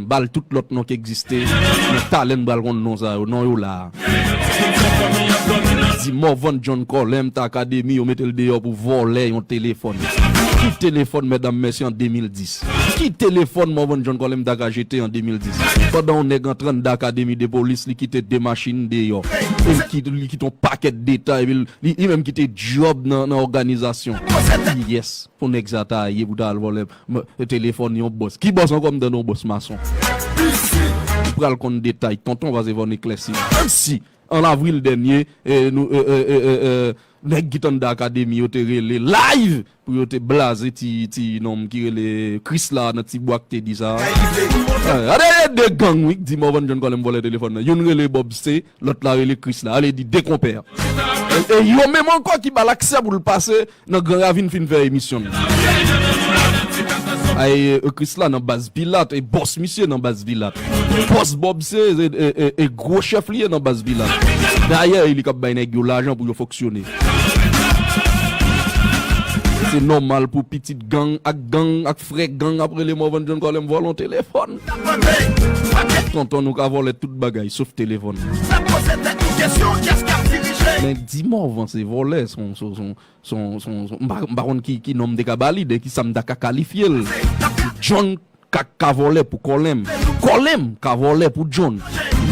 M bal tout lòt non k egziste men talè n pral konn non sa yo non yo la a. Di Morvan John Colem t akademi yo mete l deyò pou vòlè yon telefòn. Ki telefòn mètdam mèsi an 2010? Ki telefòn Morvan John Colem ta ka jete an 2010? Pandan yon nèg antre anndan akademi de polis li kite 2 machin deyò e l kite li kite yon pakèt detay epi li menm kite djòb nan òganizasyon. Kiyès pou nèg sa ta ye pou ta al vòlè M telefòn yon bòs. Ki bòs ankò m tande yon bòs mason. Ou pral konn detay tonton pase fò n eklèsi. Si, an avril dènye, nou nèg ki t anndan akademi yo te rele live pou yo te blaze ti nonm ki rele Kris la nan ti bwa k te di sa. Gade de gang wi k di Morvan Jhon Kòlè m vòlè telefòn nan. Youn rele Bob C, Lòt la rele Kris la. Alé di de konpè. E yo menm ankò ki bal aksè pou l pase nan gran ravin fin fè emisyon l. Ay e Kris la nan baz Pilat e bòs misye nan baz Pilat. Bòs Bòb se e gwo chèf li ye nan baz Pilat. Dayè e li kap bay nèg yo lajan pou yo fonksyone. Se nòmal pou pitit gang ak gang ak. Frè gang ap rele Morvan John Colem vòlon telefòn. Tonton nou ka vòlè tout bagay sof telefòn. Men di Morvan se vòlè son m pa konn ki non m te ka ba li de ki sa m ta ka kalifye l. John ka vòlè pou Colem. Colem ka vòlè pou John.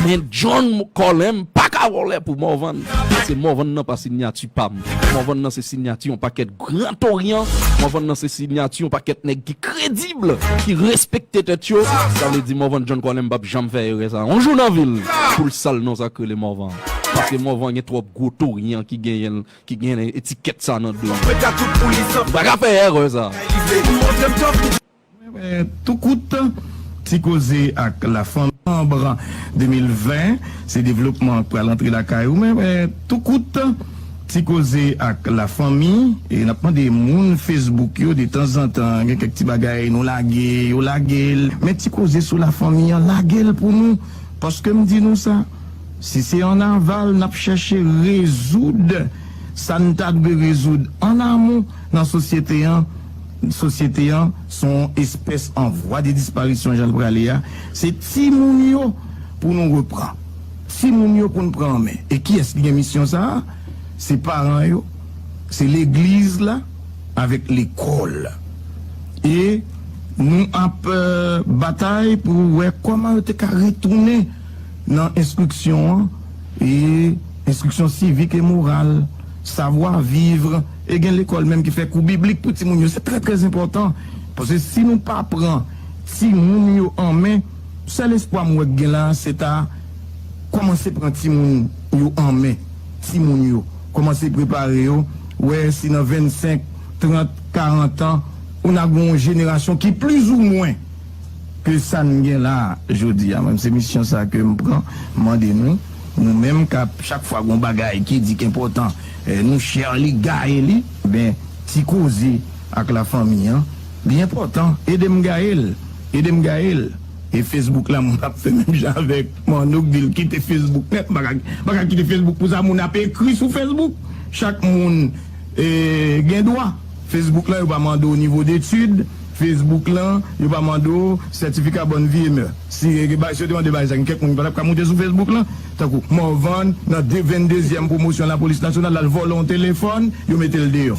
Men John Colem pa ka vòlè pou Morvan. Paske Morvan nan pa sinyati pa m. Morvan nan se sinyati yon pakèt. Grand Orient, Morvan nan se sinyati yon pakèt nèg ki kredib, ki respekte tèt yo, sa vle di Morvan John Colem pap janm fè erè sa yon jou nan vi l pou l sal non sa k rele Morvan paske Morvan gen twòp gwo torian ki genyen l, ki gen etikèt sa nan do yo. Li pa ka fè erè sa. Tou kout, Ti koze ak lafanmi. Novanb 2020, Se devlopman k pral antre lakay ou. Tou kout, Ti koze ak lafanmi, E n ap mande moun Facebook yo detanzantan gen kèk ti bagay nou lage, yo lage l. Men ti koze sou lafanmi an lage l pou nou. Paske m di nou sa, si se an aval n ap chèche rezoud sa n ta dwe rezoud an amou nan sosyete an, Sosyete an se yon espès an vwa de disparisyon jan l prale a, se timoun yo pou nou repran. Timoun yo pou n pran an men. E kiyès ki gen misyon sa a? Se paran yo, se legliz la avèk lekòl. E nou ap batay pou wè kòman yo te ka retounen nan enstriksyon an, e enstriksyon sivik e moral, savwa vivre. E gen lekòl menm ki fè kou biblik pou timoun yo. Se trè trè enpòtan. Paske si nou pa pran timoun yo an men, sèl espwa m wè k gen la a se ta kòmanse pran timoun yo an men. Timoun yo. Kòmanse prepare yo. Wè si nan 25, 30, 40 an, ou na gen yon jenerasyon ki plizoumwen ke sa n gen la a jodi a. Mwen m se misyon sa a ke m pran. M mande nou, nou menm k ap chak fwa gen yon bagay ki di k enpòtan, Nou cher li gaye li ben ti koze ak la fanmi an li enpòtan edem gayel edem gayel e Facebook la moun ap fè menm jan avèk Manno k dil kite Facebook nèt mpaka kite Facebook pou sa moun ap ekri sou Facebook chak moun gen dwa Facebook lan yo pa mande w nivo detid Facebook lan yo pa mande w sètifika bòn vi e mè si yo te mande bagay sa gen kèk moun ki patap ka moute sou Facebook lan. Tankou Morvan nan 2 vendezyèm pwomosyon lapolis nasyonal al vòlò yon telefòn, yo mete l deyò.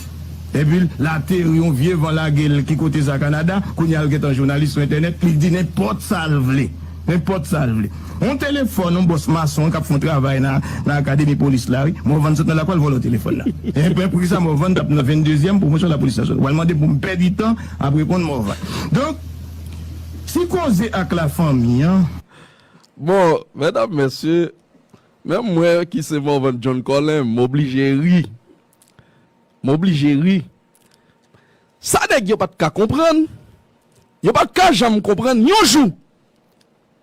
Epi l ateri yon vye van lage l ki kote sa Kanada, kounye a l gentan jounalis sou entènèt, li di nenpòt sa l vle. Nenpòt sa l vle. Yon telefòn yon bòs mason k ap fè yon travay nan akademi polis la wi. Morvan sot nan lakou al vòlò telefòn nan. Enben poukisa Morvan t ap nan vendezyèm pwomosyon lapolis nasyonal? W al mande m pou m pèdi tan ap reponn Morvan. Donk ti koze ak lafanmi an. Bon, mèdam, mèsye, menm mwen ki se Morvan John Colin, m oblije ri. M oblije ri. Sa nèg yo pa t ka konprann, yo pa t ka janm konprann yon jou,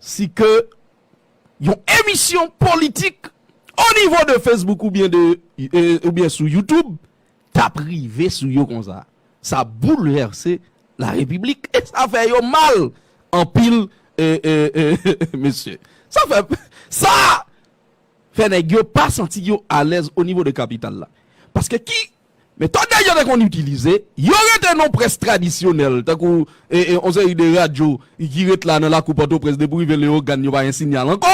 si ke yon emisyon politik onivo de Facebook oubyen sou YouTube, tap rive sou yo konsa sa boulvèse la repiblik e sa fè yo mal anpil eeeeeh mesye sa fè sa fè nèg yo pa santi yo alèz onivo de kapital la paske ki metòd nèg yo te konn itilize yo rete nan près tradisyonèl tankou yon seri de radyo ki ret la nan lakou pòtoprens depi rive leogàn yo pa gen sinyal ankò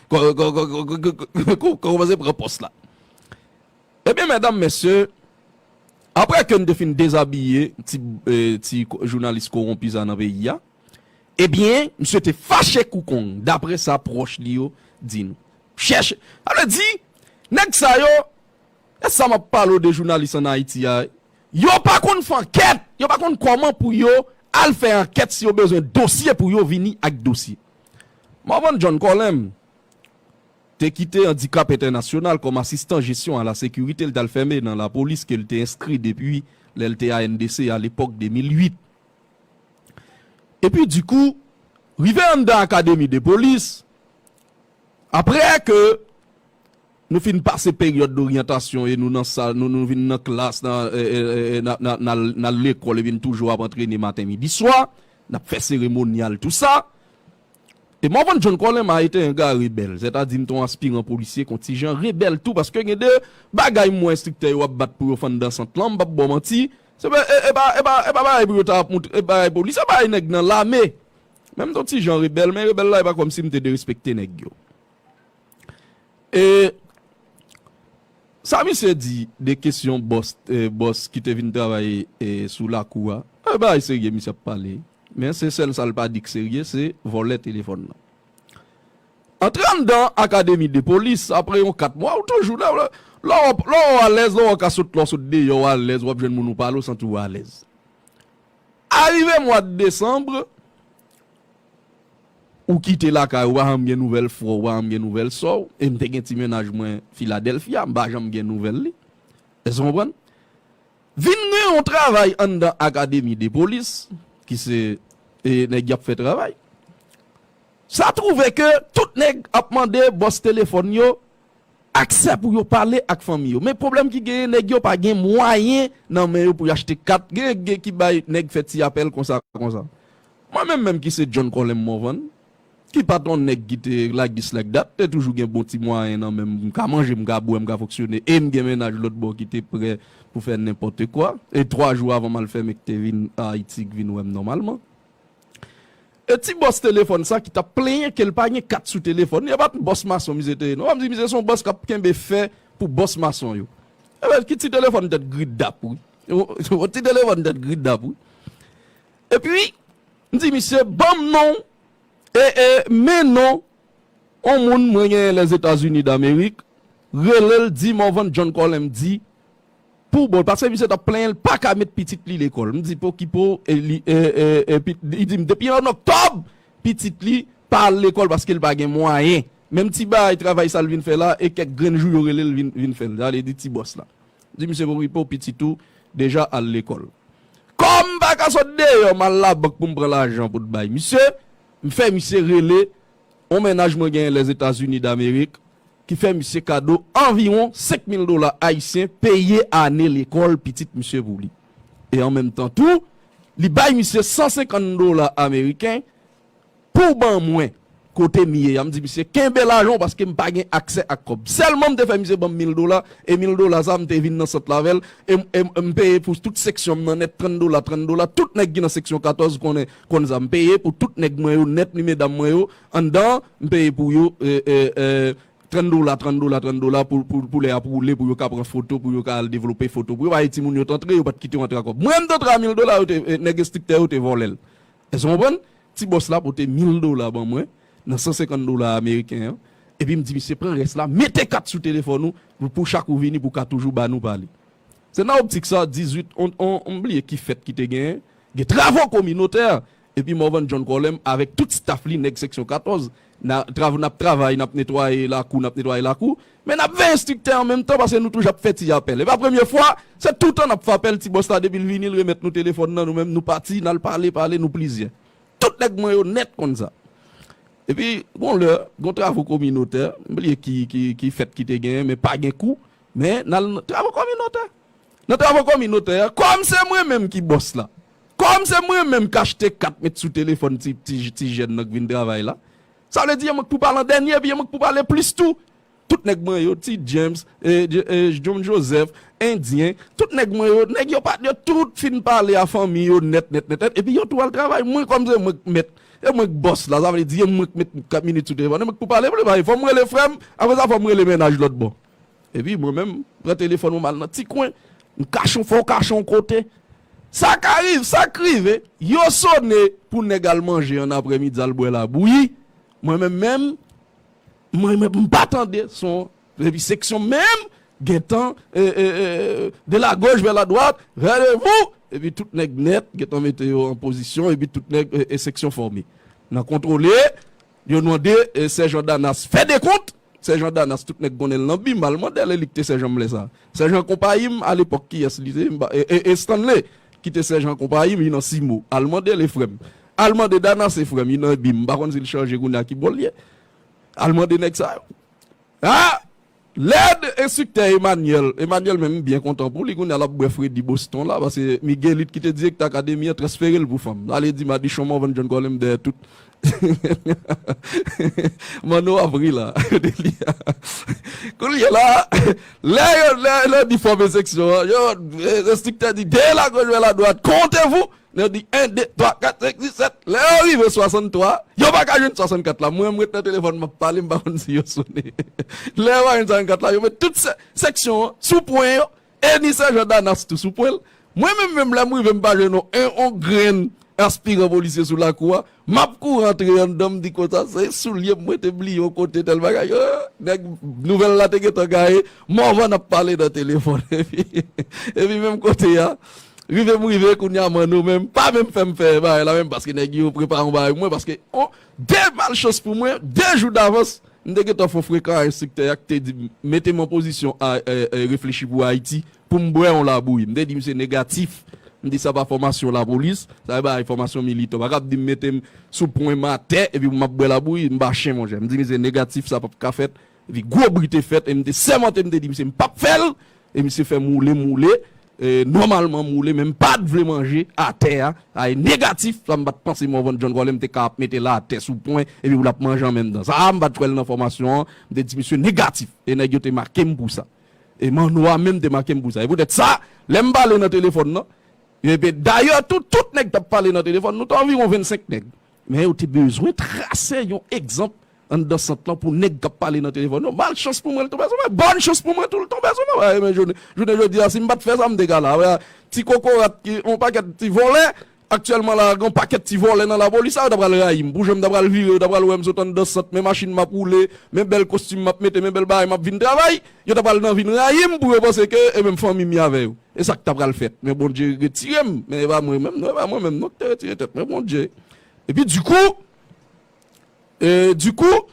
Kòmanse pran pòs la. Ebyen medam mesye, aprè ke n te fin dezabiye ti jounalis kowonpi sa nan peyi a, ebyen misye te fache kou kong daprè sa pwòch li yo di nou. Chèche, sa vle di nèg sa yo, e sa m ap pale w de jounalis an Ayiti a, yo pa konn fè ankèt, yo pa konn kòman pou yo al fè ankèt si yo bezwen dosye pou yo vini ak dosye. Morvan John Colem te kite Andikap Entènasyonal kòm asistan jesyon a la sekirite l t al fèmen nan lapolis ke l te enskri depi lè l te ANDC a lepòk 2008. Epi di kou, rive anndan akademi de polis, apre ke Nou fin pase peryòd doryantasyon e nou nan sal, nou vin nan klas, n al lekòl epi n toujou ap antrene maten midi swa, n ap fè seremonyal tou sa. E Morvan John Colin m'a été un gars rebelle, sètadi m te yon aspiran polisye kon ti jan, rebèl tou paske gen de bagay m wè enstriktè yo ap bat pou yo fann dan sant lan, m pap ba w manti, se pa e pa e pa e pa bagay pou yo ta ap moutre, e bagay pou li se bagay nèg nan lame. Men m te yon ti jan rebèl men rebèl la e pa kòmsi m te derespekte nèg yo. E sa misye di de kesyon bòs ki te vin travay sou lakou a, se bagay serye misye ap pale. Men se sèl sa l pa di k serye se vòlè telefòn nan. Antre anndan akademi de polis apre yon 4 mwa ou toujou la. Lò ou alèz, lò ou ka sot lè w sot deyò ou alèz w ap jwenn moun ou pale ou santi w alèz. Arive mwad desanm, Ou kite lakay ou pa janm gen nouvèl frè w, ou pa janm gen nouvèl sè w. E m te gen ti mennaj mwen Filadèlfya, m pa janm gen nouvèl li. Èske w konprann? Vin gen yon travay anndan akademi de polis, ki se e nèg y ap fè travay. Sa twouve ke tout nèg ap mande bòs telefòn yo aksè pou yo pale ak fanmi yo. Men pwoblèm ki genyen, nèg yo pa gen mwayen nan men yo pou y achte kat. Genyen ki bay nèg fè ti apèl konsa konsa. Mwen menm menm ki se John Colem Morvan, ki pa t yon nèg ki te lagis lak dat, te toujou gen bon ti mwayen nan men m, m ka manje, m ka bwè, m ka fonksyone e m gen mennaj lòt bò ki te prè pou fè nenpòtekwa e twa jou avan m al fè m e k te vin Ayiti, k vin wè m nòmalman. E ti bòs telefòn sa ki t ap plenyen ke l pa gen kat sou telefòn li, e pa t bòs mason misye te ye non. Ou pa m di misye se yon bòs k ap kenbe fè pou bòs mason yo. Ki ti telefòn tèt gridap wi. Yon ti telefòn tèt gridap wi. Epi, m di misye, ban m non, e, e, men non on moun mwen genyen Lèzetazini Damerik, rele l, di Morvan John Colin, m di, pou bol, paske misye t ap plenyen l pa ka met pitit li lekòl. M di, pokipo, e, li, e, e, e, pi, li di m, depi ann oktòb, pitit li pa al lekòl paske l pa gen mwayen. Menm ti bagay travay sa l vin fè la, e kèk grenn jou yo rele l vin, vin fè l. Sa vle di ti bòs la. Di misye pou repo pitit ou deja al lekòl. Kòm m pa ka sot deyò m al labank pou m pran lajan pou t bay misye, m fè misye rele yon mennaj mwen genyen Lèzetazini Damerik ki fè misye kado anviwon 5 mil dola ayisyen peye ane lekòl pitit misye pou li. E an menm tan tou, li bay misye 150 dola ameriken Pouw ban mwen kote m ye ya m di misye kenbe lajan paske m pa gen aksè ak kòb sèlman m te fè misye banm mil dola e mil dola sa m te vin nan sant la avèl e m peye pou tout seksyon m nan nèt trant dola trant dola tout nèg ki nan seksyon 14 konnen konn sa m peye pou tout nèg mwen yo nèt ni medam mwen yo anndan an m peye pou yo trant dola trant dola trant dola pou lè ap woule pou yo ka pran foto pou yo ka al devlope foto pou yo pa ye timoun yo t antre yo pat kite w antre a kòb mwen m t antre a mil dola yo te nèg estriktè yo te vòlèl Èske w konprann? Ti bòs la pote mil dola ban mwen nan san senkant dola ameriken an, epi m di misye, Pran rès la, mete kat sou telefòn ou pou chak ou vini pou w ka toujou ba nou pale. Se nan optik sa a, 18 on, on, m bliye ki fèt ki te genyen, gen travo kominotè, epi Morvan John Colem avèk tout staf li, nèg seksyon 14, Na trav nap travay nap netwaye lakou nap netwaye lakou men nap veye striktè an menm tan pase nou touj ap fè ti apèl epa premye fwa se toutan nap fè apèl ti bòs la depil vini l remèt nou telefòn nan nou menm nou pati nal pale pale nou plizyè tout nèg mwen yo nèt konn sa epi gon lè gon travo kominotè m bliye ki ki ki fèt ki te genyen men pa gen kou men nal travo kominotè nan travo kominotè kòm se mwen menm ki bòs la Kòm se mwen menm k achte kat met sou telefòn ti jèn nan k vin travay la, sa vle di e mwen k pou pale an dènye epi e mwen k pou pale plis tou. Tout nèg mwen yo, Ti James, John Joseph, Endyen, tout nèg mwen yo, nèg yo pat yo tout fin pale a fanmi yo nèt nèt nèt epi yo tou al travay. Mwen kòm se mwen k mèt, e mwen k bòs la, sa vle di e mwen k met minit sou telefòn e mwen k pou pale plis. Fò m rele frè m, apre sa fò m rele mennaj lòt bò. Epi mwen menm, m pran telefòn mwen m al nan ti kwen, m kache yon fo kache yon kote. Sa ka rive, sa k rive, yo sone pou nèg al manje an aprèmidi al bwè labouyi, mwen menm menm, mwen menm m pa tande son epi seksyon m menm gen tan de la gauche vers la droite, rendez-vous! epi tout nèg nèt gen tan mete yo an pozisyon epi tout nèg e seksyon fòme nan kontwole. Yo mande sèjan Danas fè dekont. Sèjan Danas, tout nèg konnen l nan bi mal, mande l e li ki te sèjan m lè sa a. Sèjan konpayi m a lepòk kiyès li te? E Stanley ki te sèjan konpayi m i nan Simo? Al mande l e frè m. Al mande Danas e frè m i nan bi m pa konn si l chanje kounye a ki bò l ye. Al mande nèg sa yo. A! Lèd enstriktè Emanyèl. Emanyèl menm m byen kontan pou li, kounye a l ap bwè fredi Boston la pase Miguelite ki te direktè akademi an transfere l pou fanm. Sa vle di Madichon Morvan John Colem dèyè tout Manno ap ri la kote li a Kounye la lè yo lè yo di fòme seksyon an yo enstriktè di 2 lagoch 20 ladwat, comptez-vous! Yo di 1, 2, 3, 4, 5, 6, 7, lè yo rive 63, yo pa ka jwenn 64 la. Mwen, m ret nan telefòn, m ap pale, m pa konn si yo sone. Lè yo pa jwenn 64 la, yo met tout seksyon an sou pwen yo, e ni Sèjan Danas tou sou pwen l. Mwen menm menm, lè m rive, m pa jwenn yon grenn aspiran polisye sou lakou a. Map kouri antre anndan m di konsa se soulye m mwen te bliye yon kote tèl bagay yo nèg nouvèl la te gentan gaye Morvan ap pale nan telefòn epi epi menm kote a rive m rive kounye a Manno menm pa menm fè m fè bagay la menm paske nèg yo prepare yon bagay pou mwen paske on de malchans pou mwen de jou davans m te gentan fon frekan a enstriktè a ki te di m mete m an pozisyon a reflechi pou Ayiti pou m bwè yon labouyi. M te di misye negatif, m di sa pa fòmasyon lapolis, sa se bagay fòmasyon militan. Ou pa kab di m mete m sou pwen m atè epi pou m ap bwè labouyi, m pa chen monchè. M di misye negatif sa pap ka fèt epi gwo bri te fèt e m te sèmante m te di misye m pap fè l e misye fè m woule m woule e nòmalman m woule men m pat vle manje atè a, sa e negatif, sa m pat panse Morvan John Colem te ka ap mete l atè sou pwen epi pou l ap manje an menm tan. Sa a m pat wè l nan fòmasyon an, m te di misye negatif e nèg yo te make m pou sa. E Manno a menm te make m pou sa. E poutèt sa, lè m pale nan telefòn nan, epi dayè tou, tout nèg t ap pale nan telefòn, nou te anviwon vennsenk nèg, men yo te bezwen trase yon egzanp anndan sant lan pou nèg k ap pale nan telefòn yo. Malchans pou mwen l tonbe sou mwen, bòn chans pou mwen tou l tonbe sou mwen. Jounen jodi a, si m pa t fè sa, m te ka la. Ti kokorat ki, yon pakèt ti vòlè Aktyèlman la a gen yon pakèt ti vòlè nan lapolis la, yo ta pral rayi m pou jan m ta pral vire, yo ta pral wè m sot anndan sant, men machin m ap woule, men bèl kostim m ap mete, men bèl bagay m ap vin travay, yo ta pral nan vin rayi m pou yo panse ke e menm fanmi m ye avè yo. E sa k ta pral fèt. Men Bondye retire m, men e pa mwen menm non, e pa mwen menm non ki te retire tèt mwen, Bondye. Epi dikou, e dikou,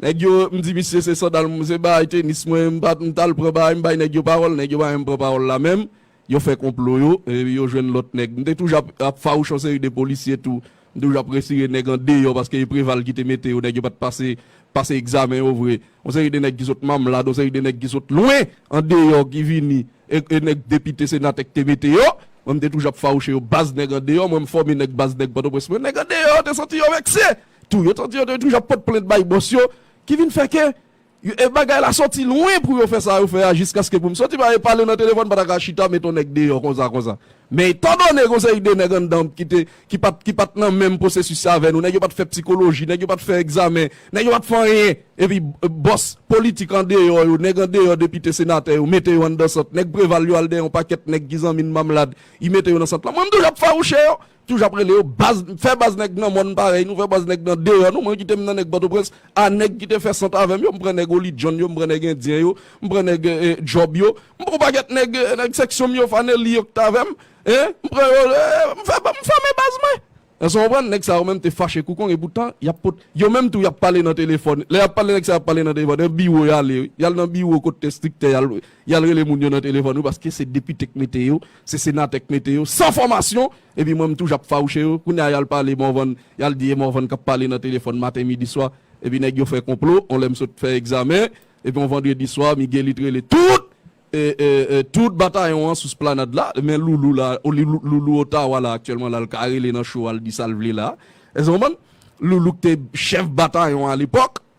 nèg yo, m di misye se sandal m, se bagay tenis mwen, m pa, m t al pran bagay m bay nèg yo pawòl, nèg yo pa menm pran pawòl la menm, Yo fè konplo yo, epi yo jwenn lòt nèg. M te toujou ap ap fawouch yon seri de polisye tou. M toujou ap retire nèg an deyò paske e Preval ki te mete yo, nèg yo pa t pase pase egzamen yo vre. Yon seri de nèg ki sot Mamlad, yon seri de nèg ki sot lwen an deyò ki vini, e e nèg depite, senatè ki te mete yo. Mwen m te toujou ap fawouche yo baz nèg an deyò. Mwen m fòme nèg baz nèg Pòtoprens mwen. Nèg an deyò yo te santi yo vekse tou. Yo te santi yo te toujou ap pot plent bay bòs yo ki vin fè ke E bagay la soti lwen pou yo fè sa yo fè a jiskaske pou m soti ba e pale nan telefòn m pa ta ka chita met on nèg deyò konsa konsa. Men etandone gen on seri de nèg anndan ki te ki pa t ki pa t nan menm pwosesis sa avè nou, nèg yo pa t fè psikoloji, nèg yo pa t fè egzamen, nèg yo pa t fè anyen epi bòs politik andeyò yo, nèg andeyò depite senatè yo mete yo anndan sant. Nèg Preval yo al dèyè on pakèt nèg ki zanmi n Mamlad, y mete yo nan sant lan. Mwen m toujou ap fawouche yo. Toujou ap rele yo baz, fè baz nèg nan mòn parèy nou, fè baz nèg nan deyò nou, mwen kite m nan nèg Pòtoprens, a nèg ki te fè sant avè m yo, m pran nèg Oli Jhon yo, m pran nèg Endyen yo, m pran nèg Djòb yo, m pran yon pakèt nèg, nèg seksyon m yo, Fanelli yo ki t avè m, m pran yo, m fè, m fòme baz mwen. Èske w konprann? Nèg sa yo menm te fache kou kong e poutan y ap pot, yo menm tou y ap pale nan telefòn, lè y ap pale nèg sa yo ap pale nan telefòn, nan biwo y ale wi, y al nan biwo kot enstriktè y al, y al rele moun yo nan telefòn wi paske se depite k mete yo. Se senatè k mete yo san fòmasyon epi mwen m toujou ap fawouche yo kounye a yal pale Morvan yal di e Morvan kap pale nan telefòn maten midi swa epi nèg yo fè konplo on lè m sot fè egzamen epi on vandredi swa Miguelit rele tout tout batayon an sou splanad la men Loulou la Loulou Ottawa la aktyèlman la l ka rele nan show a l di sa l vle la èske w konprann Loulou k te chèf batayon an alepòk.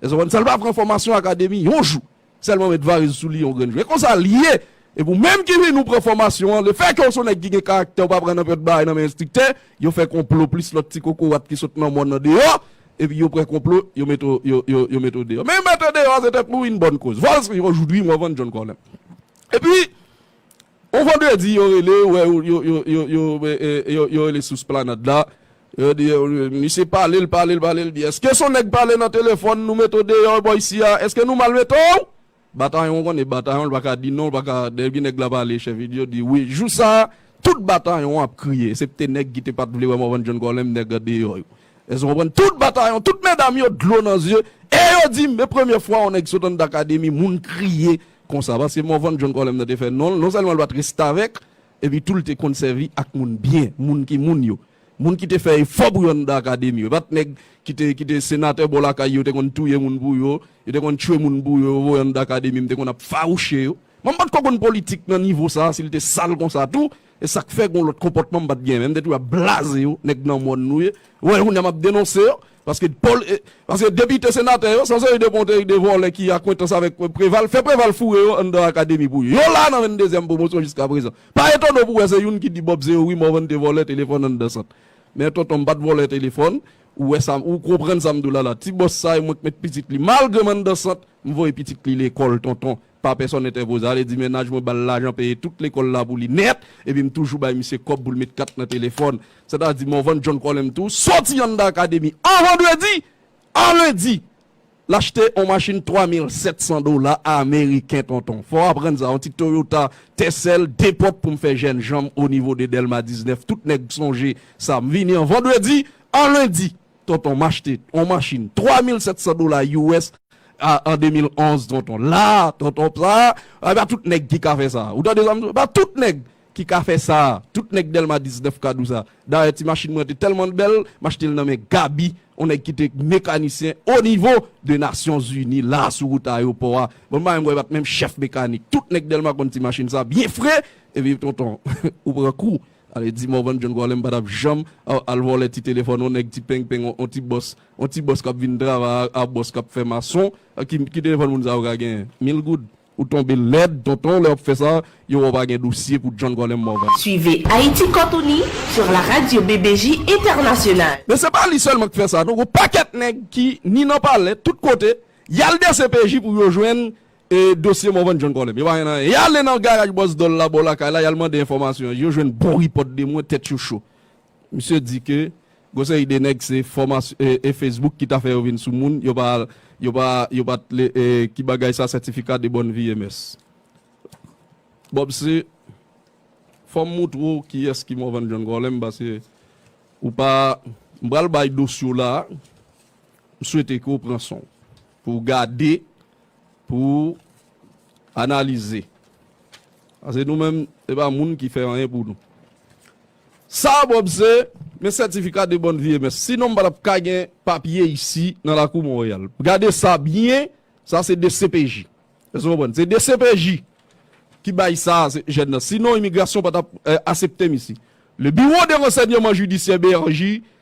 Èske w konn sa l pa pran fòmasyon akademi yon jou sèlman met variz sou li yon grenn jou? E konsa l ye! Epi ou menm ki vin ou pran fòmasyon an, lefèke w s on nèg ki gen karaktè ou pa pran nanpyòt bagay nan men enstriktè, yo fè konplo plis lòt ti kokorat ki sot nan mòn nan deyò, epi yo pran konplo, yo met ou, yo, yo, yo met ou deyò. Men mete deyò a se tankou yn bòn koz. Vòlsri, yon jou dri m wè w vann John Corlem. Epi, On vandredi yo rele wè yo rele sous planad la yo di misye pale l pale l pale l di eske son nèg pale nan telefòn nou mete w deyò bò isi a eske nou mal mete w batayon ou konnen batayon l pa ka di non l pa ka depi nèg la pale chèf li di yo di wi jou sa a tout batayon ap kriye esepte nèg ki te pat vle wè Morvan Jhon Kòlèm nèg an deyò yo èske w konprann tout batayon tout medam yo dlo nan zye e yo di m e premye fwa on nèg sot anndan akademi moun kriye Konsa, paske Morvan John Colem nan te fè non l, non sèlman l pa t restavèk, epi tou l te konn sèvi ak moun byen, moun ki moun yo. Moun ki te fè efò pou yo anndan akademi yo. E pa t nèg ki te ki te senatè bò lakay yo, yo te konn touye moun pou yo, yo te konn tchwe moun pou yo, yo voye anndan akademi, m te konn ap fawouche yo. Mòmon pa t ko konn politik nan nivo sa a, si l te sal konsa tou, Esak fè gon lòt konpòtman m pat gen menm depi wap blaze yo nèg nan mòn nou ye wè kounya map denonse yo paske pòl e paske depite senatè yo son seri de ponte e de vòlè ki akwentans avèk preval fè preval foure yo anndan akademi pou yo yo la nan 22 zyèm pwomosyon jiska prezan pa etone w pou wè se youn ki di bob se yo wi morvan te vòlè telefòn anndan sant men tonton m pat vòlè telefòn ou wè sa ou konprann sa m di w la la ti bòs sa e mwen k met pitit li malgre m anndan sant m voye pitit li lekòl tonton Pa pèsòn entèpoze ale di mennaj mwen ba l lajan peye tout lekòl la pou li nèt epi m toujou bay misye kòb pou l met kat nan telefòn. Sètadi Morvan John Colem tou soti anndan akademi an vandredi, a lendi l achte on machin 3700 dola ameriken tonton. Fò w aprann sa, on ti Toyota Tercel 2 pòt pou m fè jèn jan m onivo de Dèlma 19 tout nèg sonje sa. M vini an vandredi, a lendi. Tonton m achte yon machin 3700 dola us an 2011 tonton la tonton sa e pa tout nèg ki ka fè sa ou tande sa m di w e pa tout nèg ki ka fè sa tout nèg dèlma 19 ka dou sa dayè ti machin mwen te tèlman bèl m achte l nan men gaby yon nèg ki te mekanisyen o nivo de nasyon zini la sou wout ayewopò a bon bagay mwen e pat menm chèf mekanik tout nèg dèlma konn ti machin sa byen fre epi tonton ou pran kou Ale di Morvan John Gwalè m pa tap janm al vòlè ti telefòn on nèg ti peng peng on ti bòs on ti bòs kap vin travay a bòs kap fè mason ki telefòn moun sa yo ka genyen mil goud ou tonbe lèd tonton lè wap fè sa yo wè w pa gen dosye pou John Gwalè Morvan. Suivez Haïti Kont Uni sur la radio BBJ Internationale. Men se pa li sèlman k fè sa non gon pakèt nèg ki ni nan palè tout kote yal dcpj pou yo jwenn E dosye Morvan John Colem? Yo pa gen anyen. Yale nan garaj Bòs Dòl la bò lakay la, yal mande enfòmasyon. Yo jwenn bon repòt de mwen, tèt yo cho. Misye di ke gon seri de nèg se e Facebook ki ta fè yo vin sou moun, yo pa yo pa yo pa t e ki bagay sa certificat de bonne vie MS. Bob se Fò m moutre w kiyès ki Morvan John Colem paske ou pa M pral bay dosye w la a, m swete ke w pran son w pou w gade pou analize. Pase nou menm, se pa moun ki fè anyen pou nou. Sa a Bob se, men sètifika de bòn viyemès. Sinon m pa tap ka gen papye isi nan lakou Monreyal. Gade sa byen, sa se dcpj. Èske nou konprann? Se dcpj ki bay sa a jèn nan. Sinon imigrasyon pa tap asepte m isi. Le Bureau de Renseignement Judiciaire, BRJ,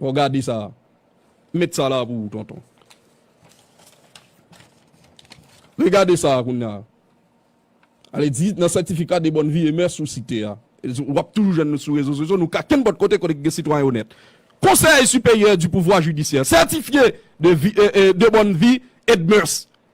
Waw gade sa a. M met sa la pou ou tonton. Regade sa a kounya. Ale di nan sètifika de bòn vi e mès ou site a. W ap toujou jwenn nou sou rezo sosyo, nou ka kenpòt kote kote ki gen sitwayen onèt. Konsèy siperyè di pouvwa jidisyè sètifye de bòn vi e de mès.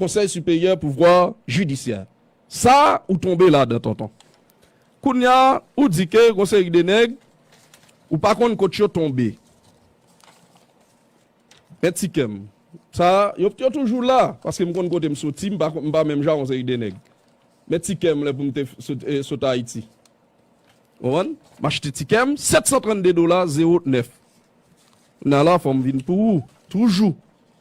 Konsèy siperyè pouvwa jidisyè sa ou tonbe ladan tonton kounya ou di ke gon seri de nèg ou pa konn kot yo tonbe men ti kèm sa yo yo toujou la paske m konn kote m soti m pa m pa menm jan ak yon seri de nèg men ti kèm lè pou m te sot ayiti ou konprann m achte ti kèm 732 dola zewo nèf na la fò m vin pou ou toujou.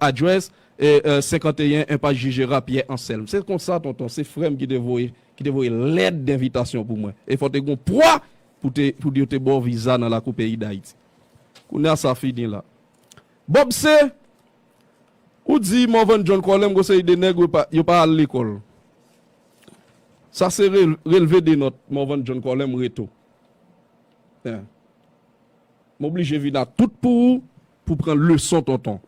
Address, 51 Enpas Jijera, Pyè Anselm. Se konsa tonton, se frè m ki te voye ki te voye lèt denvitasyon pou mwen. E fò te gon pwa pou te pou yo te ba w viza nan lakou peyi Dayiti. Kounye a sa fini la. Bob se Ou di Morvan John Colem gon seri de nèg yo pa al lekòl. Sa se relve de nòt Morvan John Colem reto. Hein. M oblije vin a tout pou ou Pou pran leson tonton.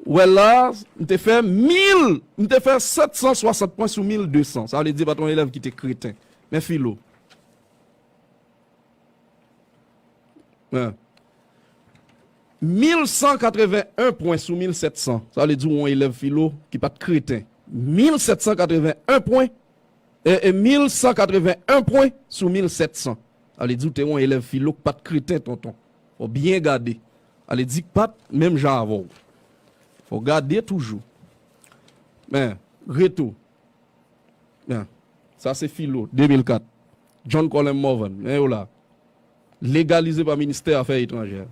Wè la, m te fè 1000, m te fè 760 pwen sou 1200. Sa vle di pa t yon elèv ki te kreten. Men filo. An. 1181 pwen sou 1700. Sa vle di yon elèv filo ki pa t kreten. 1781 pwen, e, e, 1181 pwen sou 1700. Sa vle di w te yon elèv filo ki pa t kreten tonton. Fò w byen gade. Ale di k pat menm jan avè w. Fò w gade toujou. Men, Reto. Men, sa se Filo, 2004. John Colem Morvan. Men yo la. Legalize pa Ministè Afè Etranjè.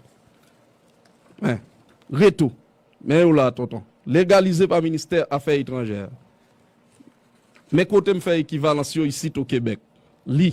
Men, Reto. Men yo la, Tonton. Legalize pa Ministè Afè Etranjè. Men kote m fè ekivalans yo isit o Kebèk. Li.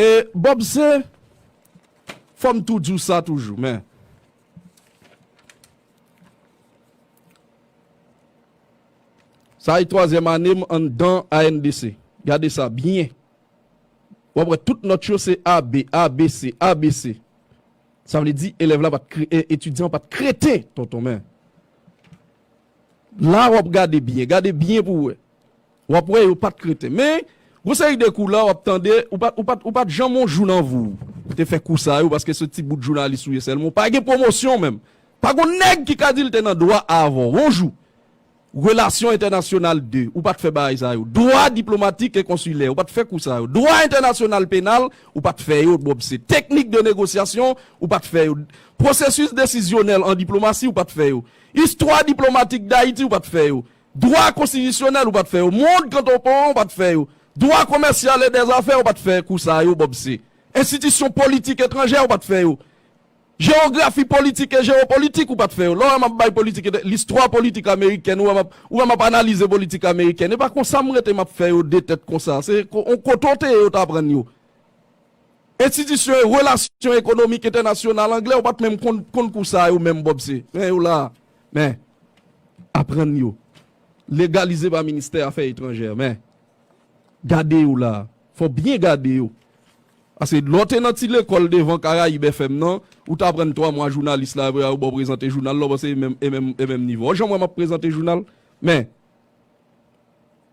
E Bob se, fò m tou di w sa toujou men, sa e twazyèm ane m anndan ANDC, gade sa byen, w ap wè tout nòt yo se AB, ABC, ABC, sa vle di elèv la pa t, etidyan an pa t kreten tonton men, la w ap gade byen, gade byen pou w wè. W ap wè yo pa t kreten. Men, gon seri de kou la w ap tande, ou pa, ou pa, ou pa t janm on jou nan vi w pou te fè kou sa yo paske se ti bout jounalis ou ye sèlman. Ou pa gen pwomosyon menm. Pa gon nèg ki ka di l te nan dwa avan w on jou. Relasyon entènasyonal 2, ou pa t fè bagay sa yo. Dwa diplomatik e konsilè, ou pa t fè kou sa yo. Dwa entènasyonal penal, ou pa t fè yo bòb se. Teknik de negosyasyon, ou pa t fè yo. Pwosesis desizyonèl an diplomasi, ou pa t fè yo. Istwa diplomatik Dayiti, ou pa t fè yo. Dwa konstitisyonèl ou pat fè yo, mond kantonpon an ou pat fè yo, dwa komèsyal e dè zafè ou pat fè kou sa yo Bob se, enstitisyon politik etranjè ou pat fè yo, jewografi politik e jewopolitik ou pat fè yo, lè w wè m ap bay politik etranjè, listwa politik amerikèn ou wè m ap, ou wè m ap analize politik amerikèn e pa konsa m rete m ap fè yo de tèt konsa, se on kote w te ye yo t aprann yo. Enstitisyon e relasyon ekonomik entènasyonal anglè ou pat menm konn konn kou sa yo menm Bob se, men yo la a. Men, aprann yo. Legalize pa Ministè Afè Etranjè. Men, gade yo la a. Fò w byen gade yo. Paske lè w te nan ti lekòl devan Caraïbes FM nan, ou te aprann twa mwa jounalis la apre a yo ba w prezante jounal la, ou panse e menm, e menm, e menm nivo. Ou janm wè m ap prezante jounal? Men,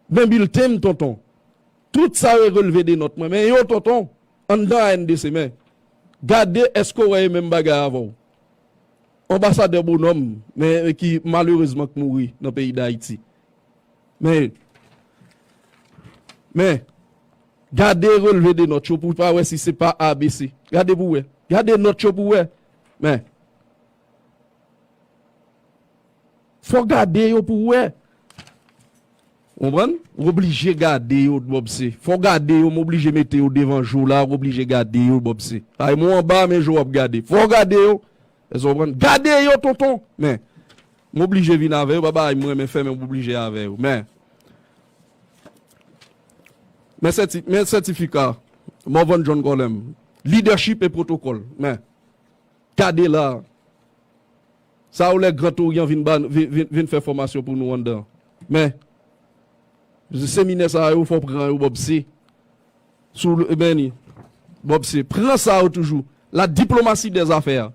men bilten m tonton. Tout sa yo e relve de nòt mwen. Men yo tonton, anndan ANDC. Men, gade èske w wè e menm bagay avè w. Anbasadè Bonhomme men ki malerezman k mouri nan peyi Dayiti. Men men gade relve de nòt yo pou ta wè si se pa ABC. Gade pou wè. Gade nòt yo pou wè. Men fò gade yo pou wè. Ou konprann? Ou oblije gade yo dbobse. Fò w gade yo, m oblije mete yo devan je w la, ou oblije gade yo dbobse. Sa vle di m ou anba men je w ap gade. Fò w gade yo. Èske w konprann? Gade yo tonton! Men, m oblije vin avè yo, pa bagay m renmen fè men m oblije avè yo. Men, men sèti, men sètifika Morvan John Colem, lidèchip e pwotokòl. Men, gade la a. Sa ou lè gran touryan vin ba vin fè fòmasyon pou nou anndan an. Men, seminè sa yo fò pran yo Bob se sou e men li Bob se pran sa yo toujou la diplomatie des affaires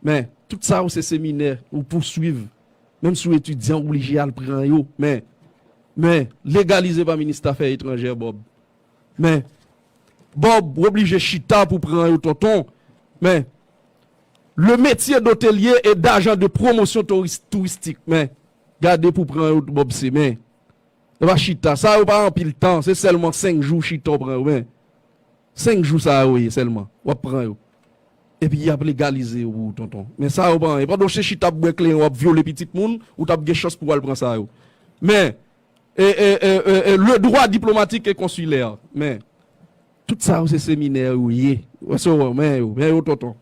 men tout sa yo se seminè ou pou swiv menm si ou etidyan ou blije al pran yo men men legalize pa minis tafè etranjè Bob Men. Bob w oblije chita pou pran yo tonton men. Le metye dotelye e dajan de pwomosyon touristik men. Gade pou pran yo bob se men. Yo pa chita sa yo pa anpil tan se sèlman 5 jou chita w pran yo men. 5 jou sa yo ye sèlman wap pran yo. Epi yap legalize yo pou ou tonton men sa yo pa anyen pandan w se chita ap bwè kleren wap vyole pitit moun ou tap gen chans pou wal pran sa yo men. Le droit diplomatique et consulaire men tout sa yo se seminè yo ye men yo men yo tonton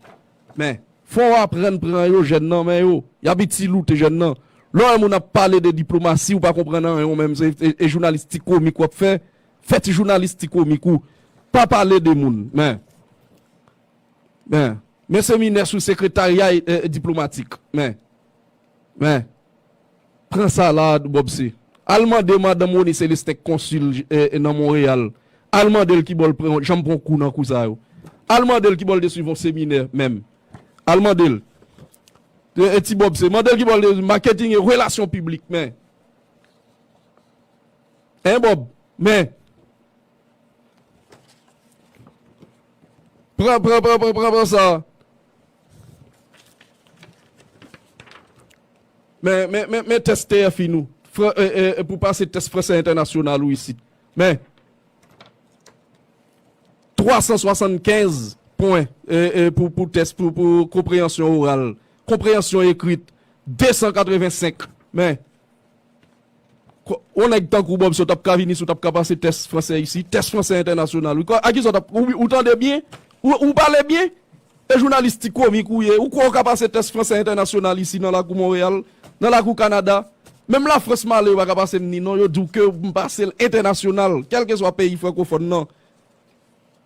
men fò w aprann pran yo jèn nan men yo y ap itiloute jèn nan lè w wè moun ap pale de diplomasi ou pa konprann anyen ou menm se jounalis ti komik w ap fè fè ti jounalis ti komik ou pa pale de moun men men men seminè sou sekretarya diplomatik men. Men, pran sa la a tou Bob se. Al mande madanm Rony Celestin k konsil nan Monreyal, al mande l ki bò l janm pran kou nan kou sa yo. Al mande l ki bò l te swiv yon seminè menm. Al mande l. E ti Bob se. Mande l ki bò l te. Maketing e relasyon piblik men. Hein Bob? Men. Pran, pran, pran, pran, pran, pran sa a. Men tès TFIN ou pou pase tès Fransè Entènasyonal ou isit. Men, 375 pwen pou tès pou konpreyansyon oral. Konpreyansyon ekrit, 285. Men. Yon nèg tankou Bob si w tap ka vini si w tap ka pase tès fransè isi, tès fransè entènasyonal wi, a kisa w tap, ou tande byen? Ou pale byen? E jounalis ti komik ou ye, ou kwè ou ka pase tès fransè entènasyonal isi nan lakou Monreyal, nan lakou Kanada? Menm lafrans m ale yo pa ka pase m ni non, yo di w ke m pase l entènasyonal, kèlkeswa peyi frankofòn nan.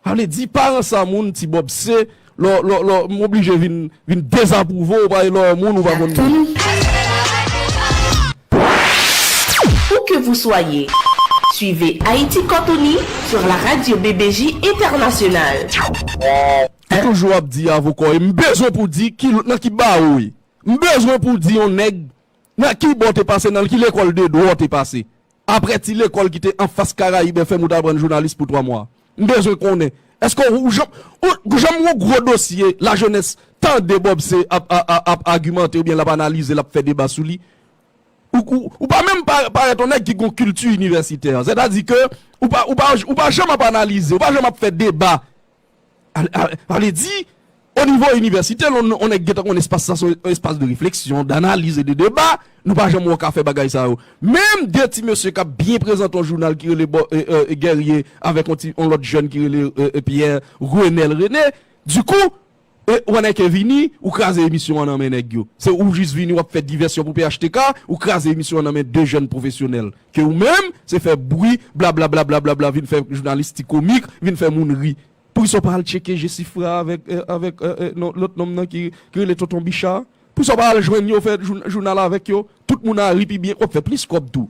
Sa vle di paran sa moun ti bob se lò lò lò m oblije vin vin dezapwouve w paske lò moun ou pa konn moun. Où que vous soyez, suivez Haïti Cantoni sur la radio BBJ Internationale. Ou toujou ap di avoka w ye, m bezwen pou w di nan ki bawo w ye. M bezwen pou w di yon nèg nan ki ba w te pase nan l, ki lekòl de dwa w te pase. Aprè ti lekòl ki te anfas Karayib FM ou t aprann jounalis pou 3 mwa. M bezwen konnen, èske ou janm janm yon gwo dosye lajenès tande Bob C. ap ap agimante oubyen l ap analize, l ap fè deba sou li? Ou pa menm parèt yon nèg ki gen yon kilti inivèsitè. Sètadi ke ou pa janm ap analize, ou pa janm ap fè deba Ale di, o nivo inivèsite, lè yon nèg gentan konnen espas sa se yon espas de refleksyon, danaliz e de deba, nou pa janm wè w ka fè bagay sa yo. Menm de ti mesye k ap byen prezante yon jounal ki rele Gèrye avèk yon ti yon lòt jèn ki rele Pyè, Renèl Rene, di kou, ou anèk e vini, ou kraze emisyon an nan men nèg yo. Se ou jis vini w ap fè divèsyon pou phtk, ou kraze emisyon an nan men de jèn pwofesyonèl. Ke ou menm se fè bwi blablablablabla vin fè jounalis ti komik vin fè moun ri. Poukisa ou pa al tcheke Jesifra avèk avèk lòt nonm nan ki rele tonton Bicha a? Poukisa ou pa al jwenn yo fè jounal avèk yo? Tout moun a ri pi byen, wap fè plis kòb tou.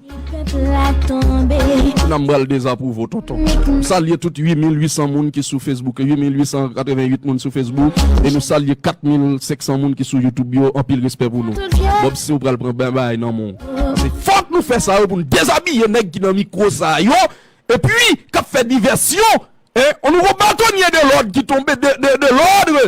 Nan m pral dezapwouve w tonton. M salye tout 8800 moun ki sou Facebook, 8888 moun sou Facebook e nou salye 4500 moun ki sou YouTube yo, anpil respè pou nou. Bob si ou pral pran bye bye nan men w. Se fòk nou fè sa yo pou nou dezabiye nèg ki nan mikwo sa yo epi k ap fè divèsyon e on nouvo batonye de lòd ki tonbe de lòdre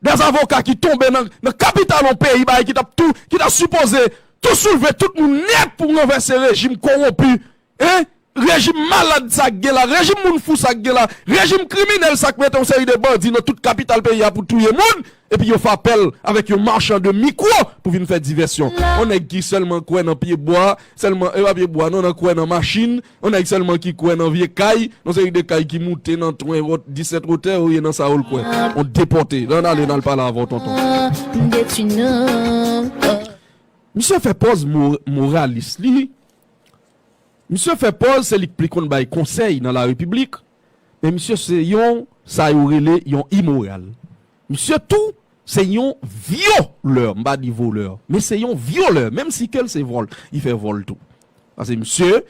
dè avoka ki tonbe nan kapital on peyi bagay ki t ap tou ki ta sipoze tou soulve tout moun nèt pou ranvèse rejim kowonpi e Rejim malad sa k gen la, rejim moun fou sa k gen la, rejim kriminèl sa k mete yon seri de bandi nan tout kapital peyi a pou touye moun, epi yo fapel avèk yon marchand de micro pou vin fè divèsyon. Yon nèg ki sèlman kwè nan pye bwa, sèlman, e pa pye bwa non, nan kwè nan machin, yon nèg sèlman ki kwè nan vye kay, yon seri de kay ki moute nan 20 wot, 17 wotè, ou ye nan sa ou l kwè. On depòte. Lan ale nan al pale avè w tonton. Misye fè pòz moralis li. Misye fè pòz se li k pli konn bay konsèy nan la repiblik men misye se yon sa yo rele yon imoral misye tou se yon vyo lè m pa di volè men se yon vyolè menm si ke l se vòl li fè vòl tou pase misye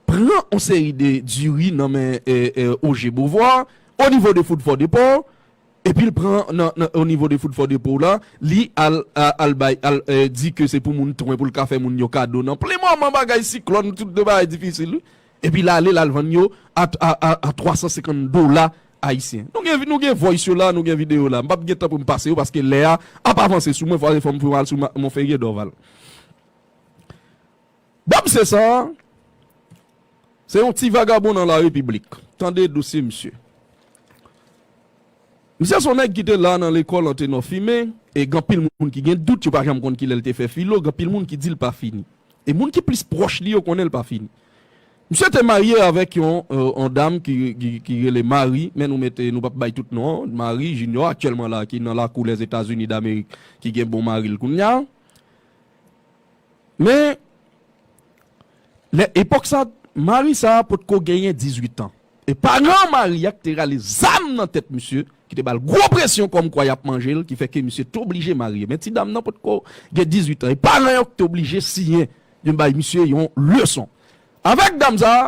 pran on seri de diri nan men oje bovwa onivo de fout fò depò Epil pran nan nan onivo de food for the poor la li al al bay al di ke se pou moun t wen poul ka fè moun yo kado nan plen moman bagay siklòn tout de bagay difisil wi epi l ale lal vann yo a a a a 350 dola ayisyen nou gen nou gen voice yo la nou gen video yo la mpap gen tan poum pase yo paske lè a ap avanse sou mwen fwa se fòm fè yon al sou monferrier dorval. Bob Cesar se yon ti vagabon nan la repiblik. Tande dosye misye. Misye son nèg ki te la nan lekòl Antenò Fime e gen anpil moun ki gen dout, yo pa janm konn ki lè l te fè filo, gen anpil moun ki di l pa fini. E moun ki plis pwòch li yo konnen l pa fini. Misye te marye avèk yon dam ki rele Marie, men nou mete, nou pap bay tout non an, Marie Junior, aktyèlman la ki nan lakou Lèzetazini Damerik ki gen bon mari l kounye a. Men, lè epòk sa, mari sa a potko genyen dizuitan. E paran mari a ki te rale zam nan tèt misye, ki te ba l gwo presyon kòmkwa y ap manje l, ki fè ke misye te oblije marye. Men ti dam nan potko gen dizuitan. E paran yo ki te oblije siyen, yo bay misye yon leson. Avèk dam sa a.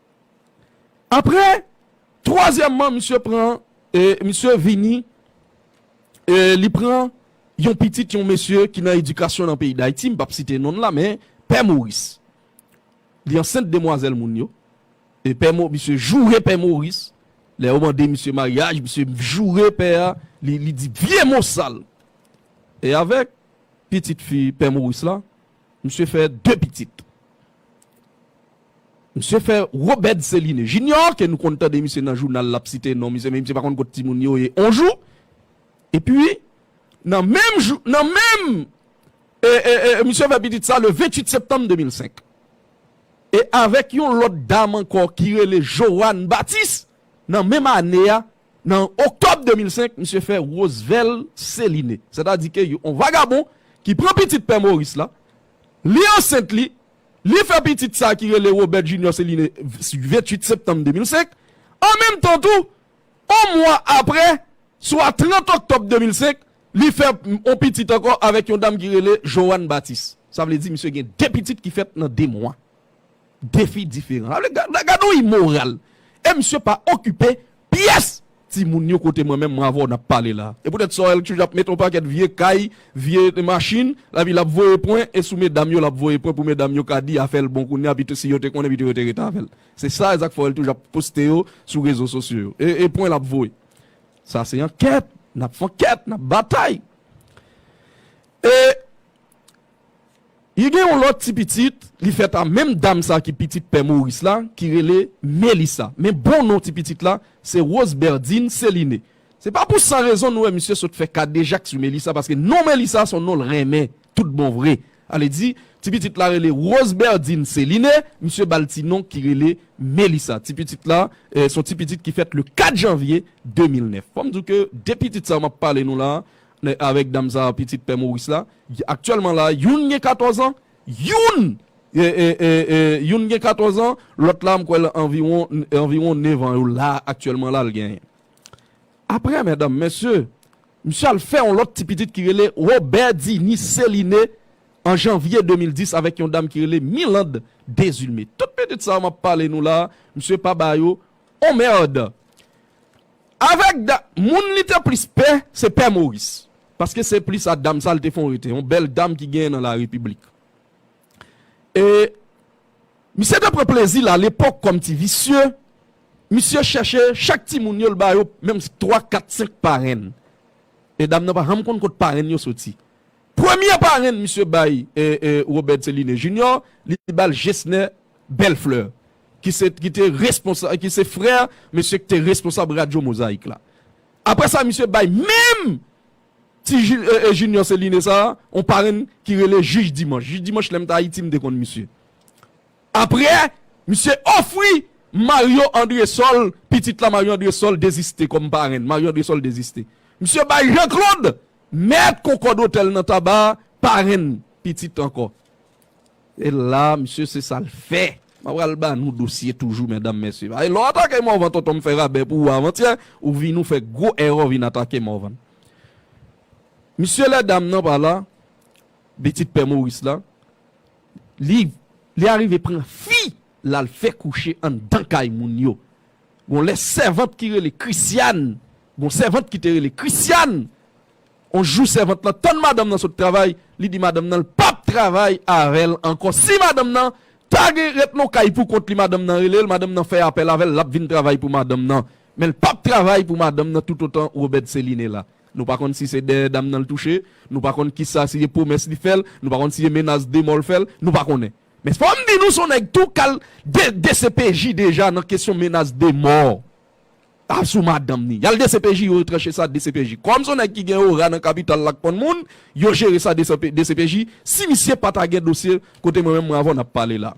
Aprè twazyèman misye pran misye vini li pran yon pitit yon mesye ki nan edikasyon nan peyi Dayiti m pap site non l la men pè Moris li ansent demwazèl moun yo e pè mo misye joure pè Moris lè yo mande misye maryaj misye joure pè a li di vye mo sal e avèk pitit fi pè Moris la Misye fè 2 pitit. Misye fè Robert Céline Junior ke nou konn tande misye nan jounal lap site non misye men misye pa konn kot timoun yo ye on jou. Epi nan menm jou nan menm misye fè pitit sa le 28 septanm 2005. E avèk yon lòt dam ankò ki rele Johanne Baptiste nan menm ane a Nan oktòb 2005, misye fè Rosevelt Céline, sètadi ke yon vagabon ki pran pitit pè Maurice la, li ansent li, li fè pitit sa ki rele Robert Junior Céline 28 septanm 2005. An menm tan tou, yon mwa apre, swa 30 oktòb 2005, li fè yon pitit ankò avèk yon dam ki rele Joan Baptiste. Sa vle di misye gen 2 pitit ki fèt nan 2 mwa. defi diferan. Gade yon imoral! E misye pa okipe pyès timoun yo kote mwen menm mwen avè w n ap pale la a. E poutèt sa, li toujou ap mete yon pakèt vye kay, vye machin, epi l ap voye pwen, e sou medam yo l ap voye pwen pou medam yo ka di afè l bon kounye a, pito si yo te konnen pito yo te rete avè l. Se sa Isaac Forel toujou ap poste yo sou rezo sosyo yo. E pwen l ap voye. Sa se ankèt, n ap fè ankèt, n ap batay. E Li gen yon lòt ti pitit li fèt a menm dam sa ki pitit pè Moris la ki rele Melisa. Men bon non ti pitit la se Roseberdine Céliné. Se pa pou san rezon nou wè misye sot fè kadejak sou Melisa paske non Melisa son non l renmen tout bon vre. Ale di ti pitit la rele Roseberdine Céliné, misye ba l ti non ki rele Melisa. Ti pitit la son ti pitit ki fèt le 4 janvye 2009. Fò m di w ke de pitit sa yo m ap pale nou la a, Lè avèk dam sa a pitit pè Moris la, aktyèlman la a, youn gen 14 an, youn youn gen 14 an, lòt la m kwè l anviwon anviwon nevan yo la a aktyèlman la a l genyen. Aprè medam mesye, misye al fè yon lòt ti pitit ki rele Robèdini Seline an janvye 2010 avèk yon dam ki rele Miland Dezilme. Tout pitit sa yo m ap pale nou la a, misye pa ba yo on mèrd. Avèk da moun li te plis pè, se pè Moris. Paske se plis a dam sa l te fon rete, yon bèl dam ki genyen nan Larepiblik. E, misye te pran plezi l alepòk kòm ti visye, misye chèche chak timoun yo l ba yo menm twa, kat, senk parenn. E dam nan pa janm konn kot parenn yo soti. Premye parenn misye bay Robert Céliné Junior, li ba l Gesner Bellefleur ki se ki te responsab ki se frè mesye ki te responsab radyo Mozaïk la. Aprè sa misye bay menm ti Junior Céliné sa a yon parenn ki rele Jij Dimanch. Jij Dimanch lè m t Ayiti m te konn misye. Aprè misye ofri Mario Andresol, pitit la Mario Andresol deziste kòm parenn. Mario Andresol deziste. Misye bay Jean Claude. Mèt Concorde Hotel nan Taba parenn pitit ankò. E la misye se sa l fè. Mwen pral ba nou dosye toujou medam mesye. Paske lè w atake Morvan tonton m fè rabè pou ou avantyè, ou vin ou fè gwo èrè ou vin atake Morvan. Misye lè dam nan pa la, pitit pè Maurice la, li li arive pran fi l al fè kouche anndan kay moun yo. Gon lè sèvant ki rele Christiane Gon sèvant ki te rele Christiane On jou sèvant lan tann madanm nan sot travay li di madanm nan l pap travay avè l ankò si madanm nan ta gen ret non kay pou kont li madanm nan rele l madanm nan fè apèl avè l l ap vin travay pou madanm nan men l pap travay pou madanm nan toutotan Robert Céline la nou pa konn si se dèyè dam nan l touche nou pa konn kisa si se pwomès li fè l nou pa konn si se menas de mò l fè l nou pa konnen Men fòm di nou son nèg tou kal dcpj deja nan kesyon menas de mò a sou madanm ni. Yal dcpj yo retranche sa dcpj. Kòm son nèg ki gen ora nan kapital la k konn moun, yo jere sa dcpj. Si misye pa ta gen dosye kote mwen menm mwen avè w nap pale la.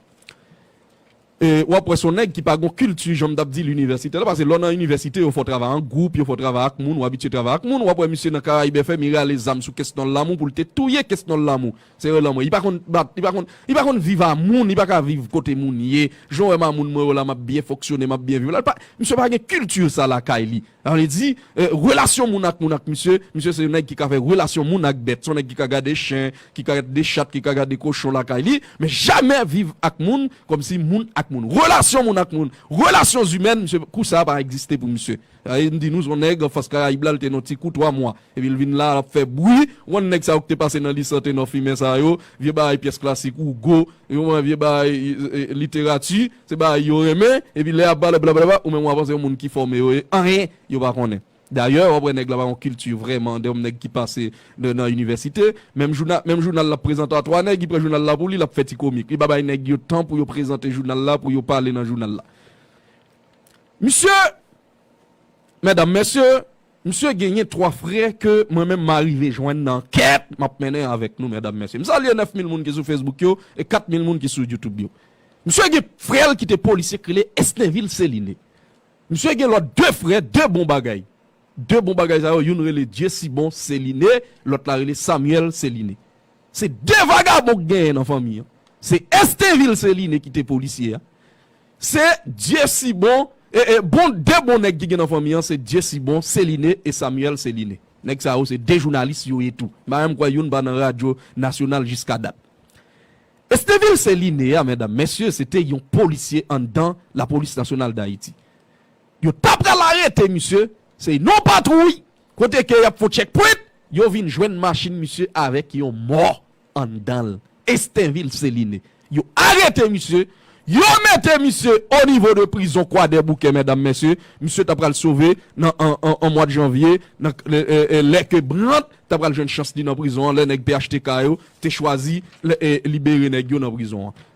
E wap wè son nèg ki pa gon kilti jan m tap di l inivèsitè la pase lè w nan inivèsite yo fè w travay an gwoup, yo fè w travay ak moun, w abitye travay ak moun. Wap wè misye nan Caraïbes FM li rale zam sou kesnòl lamou pou l te touye kesnòl lamou. Se yo lanmò. Li pa konn bat, li pa konn, li pa konn viv a moun, li pa ka viv kote moun ye. Jan w wè m a moun mwen yo la m ap byen fonksyone, m ap byen viv la, li pa, misye pa gen kilti sa lakay li. Sa vle di, relasyon moun ak moun ak misye, misye se yon nèg ki ka fè relasyon moun ak bèt. Se yon nèg ki ka gade chen, ki ka gade chat, ki ka gade kochon lakay li, men jamè viv ak moun kòmsi moun ak moun. Relasyon moun ak moun, relasyon zimèn, misye, kou sa a pa egziste pou misye. Rayi m di nou son nèg fas karayib la l te nan ti kou 3 mwa epi l vin la a l ap fè bwi ou konn nèg sa yo k te pase nan lise an te nan fimen sa yo vye bagay pyès klasik Hugo ou konprann vye bagay literati se bagay yo renmen epi lè y ap pale blablabla ou menm w ap panse moun ki fòme yo ye anyen yo pa konnen dayè w ap wè nèg la pa gon kilti vrèman de yon nèg ki pase nan inivèsite menm jounal menm jounal l ap prezante a 3 nèg ki pran jounal la pou li l ap fè ti komik li pa bay nèg yo tan pou yo prezante jounal la pou yo pale nan jounal la. Misye, Medam, Mesye, misye genyen 3 frè ke mwen menm ma rive jwenn nan ankèt map mennen avèk nou medam mesye. M salye 9 mil moun ki sou Facebook yo e 4 mil moun ki sou YouTube yo. Misye gen frè l ki te polisye k rele Esnevil Celine. Misye gen lòt 2 frè, 2 bon bagay. 2 bon bagay sa yo, youn rele Dieusibon Celine, lòt la rele Samuel Celine. Se 2 vagabon k genyen nan fanmi an. Se Esnevil Celine ki te polisye a. Se dyesibon e e bon 2 bon nèg ki gen nan fanmi an se dyesibon celine e samuel celine nèg sa yo se 2 jounalis yo ye tou m pa menm kwè youn pa nan radyo nasyonal jiska dat estevil celine a mèdam mèsye se te yon polisye anndan lapolis nasyonal dayiti yo ta pral arete misye se yn non patwouy kote ke yap fon tchèk pwent yo vin jwenn machin misye avèk yon mò. anndan l Estenvil Seline yo arete misye yo mete misye o nivo de prizon kwadèboukè mèdam mèsye misye ta pral sove nan an mwad janvye nan lè ke Brandt ta pral jwenn chans li nan prizon an lè nèg phtk yo te chwazi libere nèg yo nan prizon an.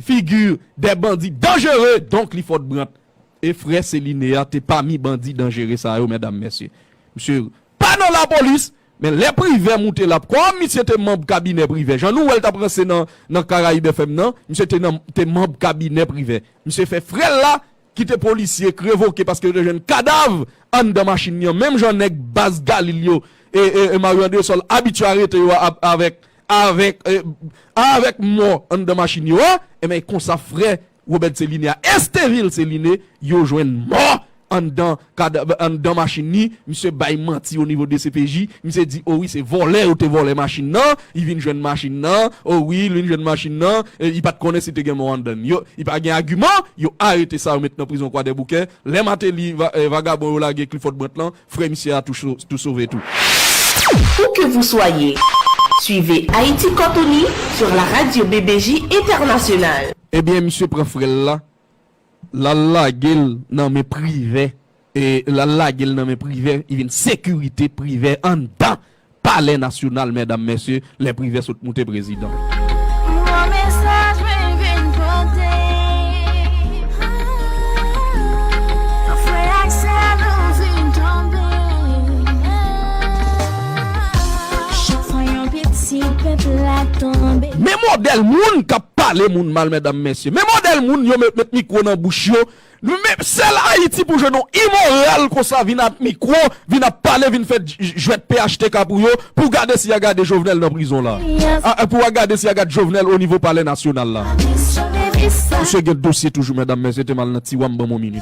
figure des bandits dangereux donc li fort brant e frè celine a te pami bandi danjere sa yo mèdam mèsye misye pa nan lapolis men lè privè moute lap kòm misye te manb kabinè privè jan nou wèl tap ranse nan nan caraïbe fm nan misye te nan te manb kabinè privè misye fè frèl la Kite polisye k revoke paske yo te jwenn kadav anndan machin li an menm jan nèg baz galil yo e mario andresol abitye arete yo avèk avèk avèk mò anndan machin yo a enben e konsa frè robert celine a estevil celine yo jwenn mò anndan Kad anndan machin li, misye bay manti o nivo dcpj, misye di o wi se vòlè yo te vòlè machin nan, li vin jwenn machin nan, o wi li vin jwenn machin nan, li pat konnen si te gen mò anndan li. Yo, li pa gen agiman, yo arete sa yo met nan prizon kwadèboukè, lè Mateli, vagabon yo lage Clifford Brandt lan, frè misye a tou tou sove tou. Où que vous soyez, suivez Haïti Cantonais sur la radio BBJ Internationale. Ebyen misye pran frè l la, Lal lagel nan men privè lal lagel nan men privè li vin sekirite privè anndan palè nasyonal mèdam mèsye lè privè sot moute prezidan. Gwo mesaj mwen vin pote Nan frè ak sè nou vin tonbe Chak fwa yon pitit pèp la tonbe. Men modèl moun kap. pale moun mal medam mesye men model moun yo met mikro nan bouch yo men sel ayiti pou jwenn yon imoral konsa vin ak mikro vin ap pale vin fè jwèt phtk pou yo pou gade si ya gade jovenel nan prizon la a pou ya gade si ya gad jovenel o nivo palè nasyonal la misye gen dosye toujou medam mesye temal nan tiwa m ban m yon minit.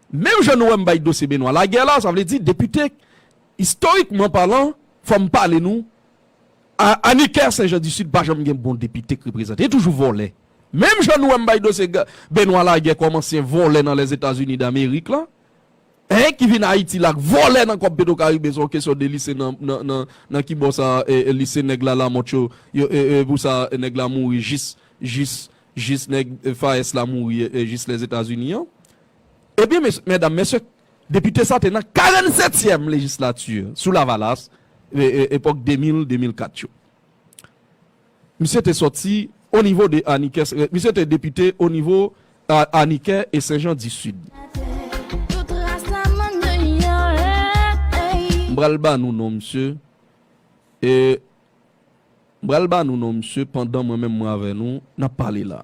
Menm jan nou wè m bay dosye Benoît Laguerre la, sa vle di depite istorikman palan fò m pale nou a Anicker Sen Jan di Sid pa janm gen bon depite k reprezante li toujou vòlè. Menm jan nou wè m bay dosye Benoît Laguerre kòm ansyen vòlè nan Lèzetazini Damerik lan en ki vin Ayiti la k vòlè nan kòb Petrocaribe se yon kesyon de li se nan ki bò sa li se nèg la Lamothe yo yo e e pou sa nèg la mouri jis jis jis nèg FAES la mouri jis Lèzetazini an. Ebyen mesye, medam, mesye, depite sa te nan 47 tièm lejislati sou lavalas, epòk 2000, 2004 yo. Misye te sòti o nivo de Anikè, misye te depite o nivo Anikè e Senjan di Sid. M pral ba nou non misye, e m pral ba nou non misye pandan mwen menm mwen avè nou nap pale la.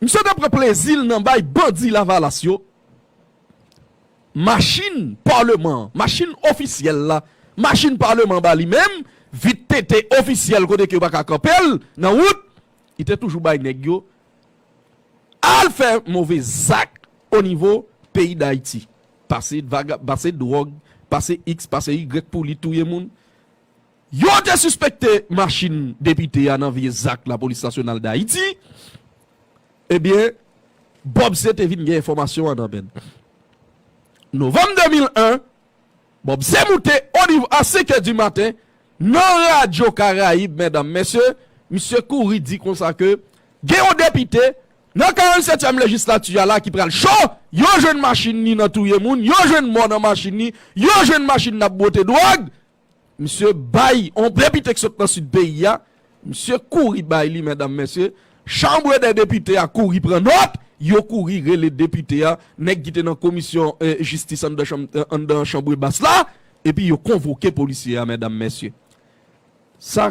Misye te pran plezi l nan bay bandi Lavalas yo machin Paleman an, machin ofisyèl la, machin Paleman ba li menm, vit tete ofisyèl kote ke yo pa ka kanpe l nan wout, li te toujou bay nèg yo al fè move zak onivo peyi Dayiti. Pase vaga, pase dwòg, pase iks, pase yigrèk pou li touye moun. Yo te sispekte machin depite a nan vye zak lapolis nasyonal Dayiti. Ebyen, Bob C te vin gen enfòmasyon an nan men l. Novanm 2001, Bob C moute oniv a senkè di maten nan radyo Karayib, mèdam, mèsye, misye kouri di konsa ke gen yon depite nan 47 tyèm lejislati a la ki pral cho, yo jwenn machin ni nan touye moun, yo jwenn mò nan machin ni, yo jwenn machin n ap bwote dwòg. Misye bay on depite ki sot nan sid peyi a, misye kouri bay li medam mesye, chanbre dè depite a kouri pran nòt, yo kouri rele depite a, nèg ki te nan komisyon jistis anndan chanm anndan chanbre bas la, epi yo konvoke polisye a medam mesye. Sa.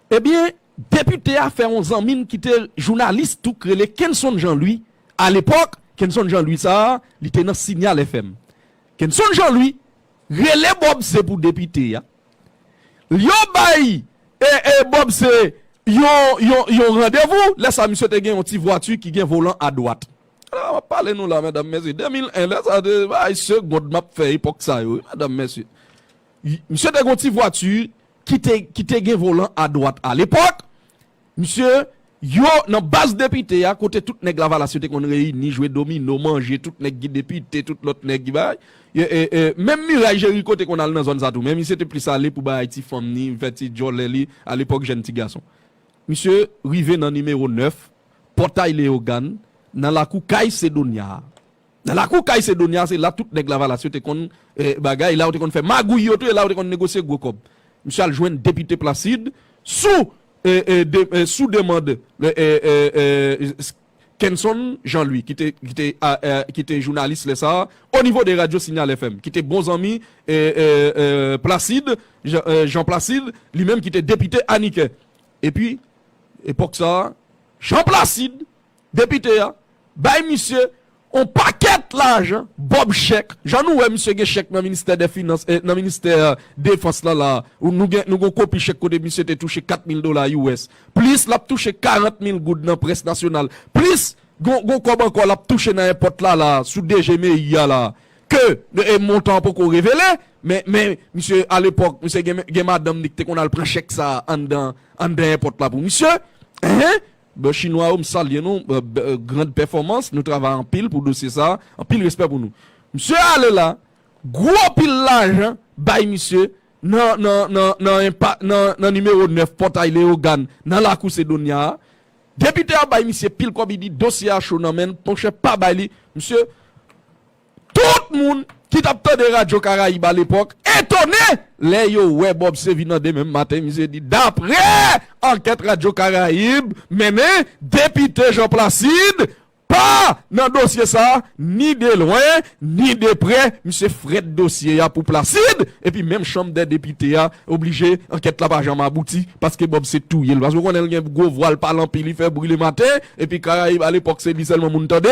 Ebyen, depite a fè yon zanmi n ki te jounalis tou k rele Kenson Jean Louis, alepòk, Kenson Jean Louis sa a, li te nan Signal FM. Kenson Jean Louis rele Bob se pou depite a, l yo bay Bob se yon randevou, lè sa a misye te gen yon ti vwati ki gen volan adwat. M ap pale nou la medam mesye, 2001, lè sa a se bagay segond m ap fè epòk sa yo wi medam mesye. Misye te gen yon ti vwati ki te gen volan a dwat a lepòk, msye, yo nan baz depite a kote tout nèg lavalas yo te konn reyini, jwe domino, manje, tout nèg ki depite, tout lòt nèg ki bagay, menm Miray Jeriko te konn al nan zòn sa tou men misye te plis ale pou bay ti fanm ni fè ti djòlè li a lepòk jèn ti gason. Misye rive nan nimewo 9, Pòtay Leyogàn, nan lakou kay Sedonya a. Nan lakou kay Sedonia, se la tout nèg Lavalas yo te konn bagay, la yo te konn fè magouy yo tou e la yo te konn negosye gwo kòb. Misye al jwenn Depite Placide sou sou demand Kenson Jean Louis ki te ki te ki te jounalis lè sa a onivo de radyo Signal FM ki te bon zanmi Placide Jean Placide li menm ki te depite Anikè epi epòk sa a Jean Placide Depite a bay misye on pakèt lajan, bob chèk, jan nou wè misye gen chèk nan ministè dè finans, nan ministè defans lan la, nou gen, nou gen on kopi chèk kote misye te touche 4 mil dola US, plis lap touche 40 mil goud nan près nasyonal, plis gon, gon kòb ankò lap touche nan èpòt la la, sou DG meiy a la, ke montan an poko revele, men, men misye alepòk misye gen, gen madanm li ki te konn al pran chèk sa anndan, anndan èpòt la pou misye, enh, Bon chinwa yo m salye nou grand pèfòmans nou travay anpil pou dosye sa anpil respè pou nou msye ale la gwo pil lajan bay misye nan nan nan nan enpa nan nan nimewo 9 pòtay leogàn nan lakou sedonya a depite a bay misye pil kòb idi dosye a cho nan menl monchè pa bay li msye Tout moun ki t ap tande radyo Karayib alepòk etone lè yo wè Bob Sevi nan demen maten misye di dapre ankèt radyo Karayib mennen depite Jean Placide pa nan dosye sa ni de lwen ni de prè misye frèt dosye a pou Placide epi menm chanm dè depite a oblije ankèt la pa janm abouti paske Bob se touye l paske w konnen l gen gwo vwa l pale anpil li fè bri le maten epi Karayib alepòk se li sèlman moun tande.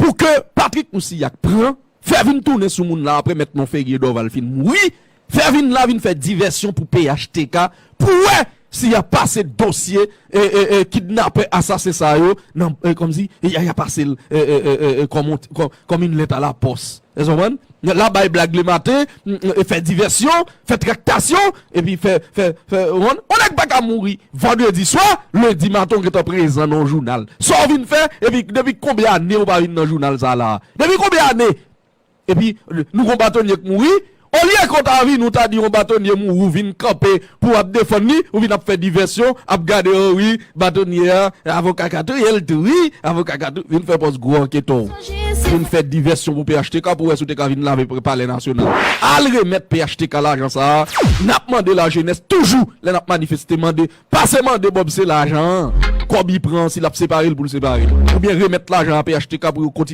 Pou ke Patrick Mousillak pran, fè vin tounen sou moun la apre mèt Monferrier Dorval fin mouri, fè vin la vin fè divèsyon pou phtk pou wè si ya pase dosye kidnapè asasen sa yo nan, kòmsi, ya pasel kòm yon lèt a la pòs. Èske w konprann? Lè la bay blag le maten, fè divèsyon, fè traktasyon, epi fè, fè, fè ronn. On nèg pa ka mouri vandredi swa, lendi maten w gentan prezan nan yon jounal. Sa w vin fè, epi depi konbyen ane ou pa vin nan jounal sa la a? Depi konbyen ane? Epi nou gon batonye k mouri, olye ke w ta vini w ta di yon batonye mouri w vin kanpe Pou ap defann li ou vin ap fè divèsyon ap gade oh wi batonye a avoka kato yel tou wi avoka kato vin fè pòz gwo anketon vin fè divèsyon pou phtk pou wè si ou te ka vin lave palè nasyonal al remèt phtk lajan sa a nap mande lajenès toujou lè nap manifeste mande pase mande bob se lajan an kòb li pran an si lap separe l pou l separe l oubyen remèt lajan a phtk pou yo kontinye.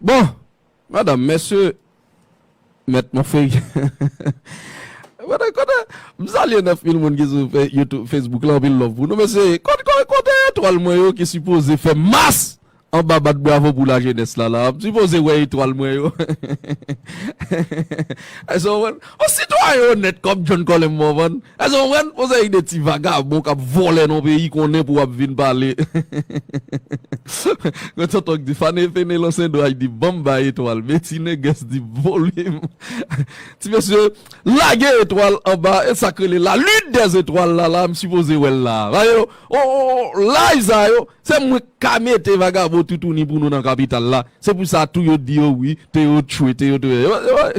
Bon! Madanm, mesye, mèt Monferrier M salye 9000 moun ki sou youtube, facebook la anpil love pou nou mesye Kote etwal mwen yo ki sipoze fè mas anba bat bravo pou lajenès la la M sipoze wè etwal mwen yo Èske w konprann? On sitwayen onèt kòm John Colem Morvan, èske ou konprann? On seri de ti vagabon k ap vòlè nan yon peyi konnen pou w ap vin pale. Yon tonton k di fane Fenelon Sendoy di ban m bay etwal men ti Nègès di volim. Ti mesye, lage etwal anba e sa k rele la lune des étoiles la la m sipoze wè l la a. Paske on laj sa yo, Se mwen k ka mete vagabon toutouni pou nou nan kapital la, se pou sa tou yo di yo wi, Théo tchwe, Théo tchwe. Yo yo yo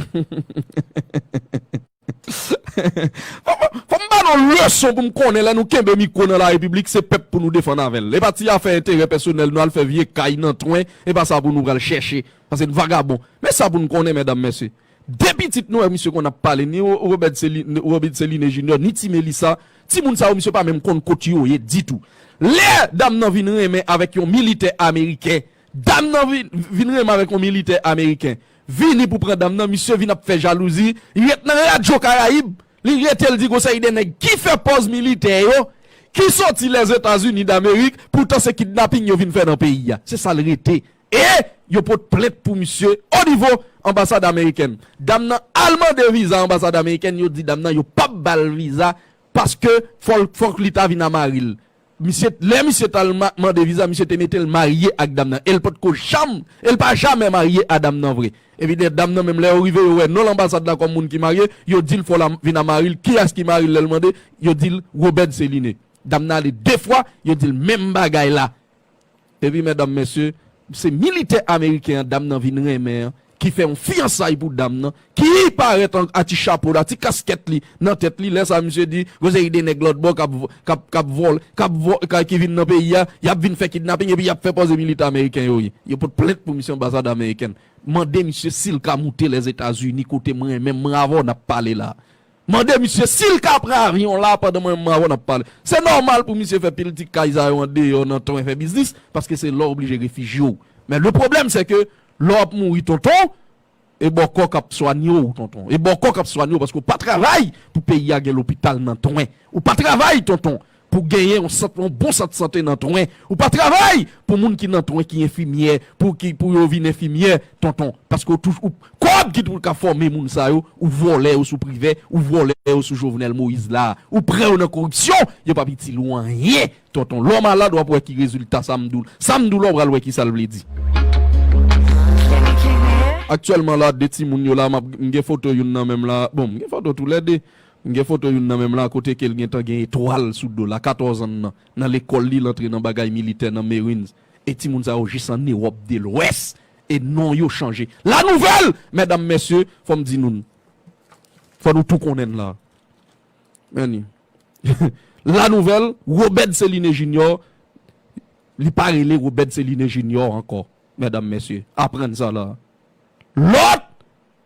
Fò m fò m ba nou yon leson pou m konnen lè nou kenbe mikwo nan larepiblik se pèp pou nou defann avè l. E pa ti afè enterè pèsonèl nou al fè vye kay nan twen e pa sa pou nou pral chèche paske n vagabon. Men sa pou nou konnen mèdam mèsye, 2 pitit nou e misye konn ap pale ni Robert Céline Robin Céline Junior ni Ti Mélissa Ti moun sa yo misye pa menm konn kot yo ye ditou. Lè dam nan vin renmen avèk yon militè ameriken, dam nan vin renmen avèk yon militè ameriken, vini pou pran dam nan, misye vin ap fè jalouzi, li ret nan radyo karayib, li rete l di gon seri de nèg ki fè pòz militè yo, ki soti Lèzetazini damerik, poutan se kidnaping yo vin fè nan peyi a. Se sa l rete E yo pot plent pou misye o nivo anbasad amerikèn. Dam nan al mande viza anbasad amerikèn yo di dam nan yo pap bal viza paske fòk li ta vin a maril. Misye lè misye tal mande viza misye te metel marye ak dam nan el potko janm el pa jamè marye a dam nan vre. Epi de dam nan menm lè yo rive yo wè non anbasad la kòm moun ki marye yo dil fòl a vin a maril kiyès ki maril lèl mande yo dil Robert Celine. Dam nan ale 2 fwa yo dil menm bagay la Epi medam mesye se militè ameriken an dam nan vin renmen an ki fè yon fiyansay pou dam nan ki parèt a ti chapo l a ti kaskèt li nan tèt li lè sa misye di gon seri de nèg lòtbò kap vòl ki vin nan peyi a y ap vin fè kidnaping epi y ap fè pòze militè ameriken yo ye yo pot plent pou misye anbasad amerikèn mande misye si l ka moute lèzetazini kote m renmen m ravò n ap pale la. Mande misye sil ka pran avyon la pandan mwen mawon ap pale. Se nòmal pou misye fè piltik kay sa yo andeyò nan ton fè biznis paske se la w blije refijye w. Men le pwoblèm se ke lè w ap mouri tonton e bòkò k ap swanye w tonton. E bòkò k ap swanye w paske w pa travay pou peyi a gen lopital nan ton. Ou pa travay tonton. Pou genyen yon sant yon bon sant sante nan twen ou pa travay pou moun ki nan twen ki enfimyè pou ki pou yo vin enfimyè tonton paske ou touj ou kòb ki pou ka fòme moun sa yo ou vòlè yo sou privè ou vòlè yo sou jovenel moïse la ou prè yo nan koripsyon yo pap itil ou anyen tonton lè w malad wap wè ki rezilta sa m di w la sa m di w la w pral wè kisa l vle di. Aktyèlman la 2 timoun yo la map m gen foto youn nan men m la bon m gen foto tou lè 2 M gen foto youn nan men m la kote ke l gen tan gen etwal sou do l a 14 an nan nan lekòl li l antre nan bagay militè nan Marines e timoun sa yo jis an Ewòp de lwès e non yo chanje la nouvèl mèdam mèsye fò m di nou n fò nou tou konnen n la anyway la nouvèl Robert Céliné Junior li pa rele Robert Céliné Junior ankò mèdam mèsye aprann sa la lòt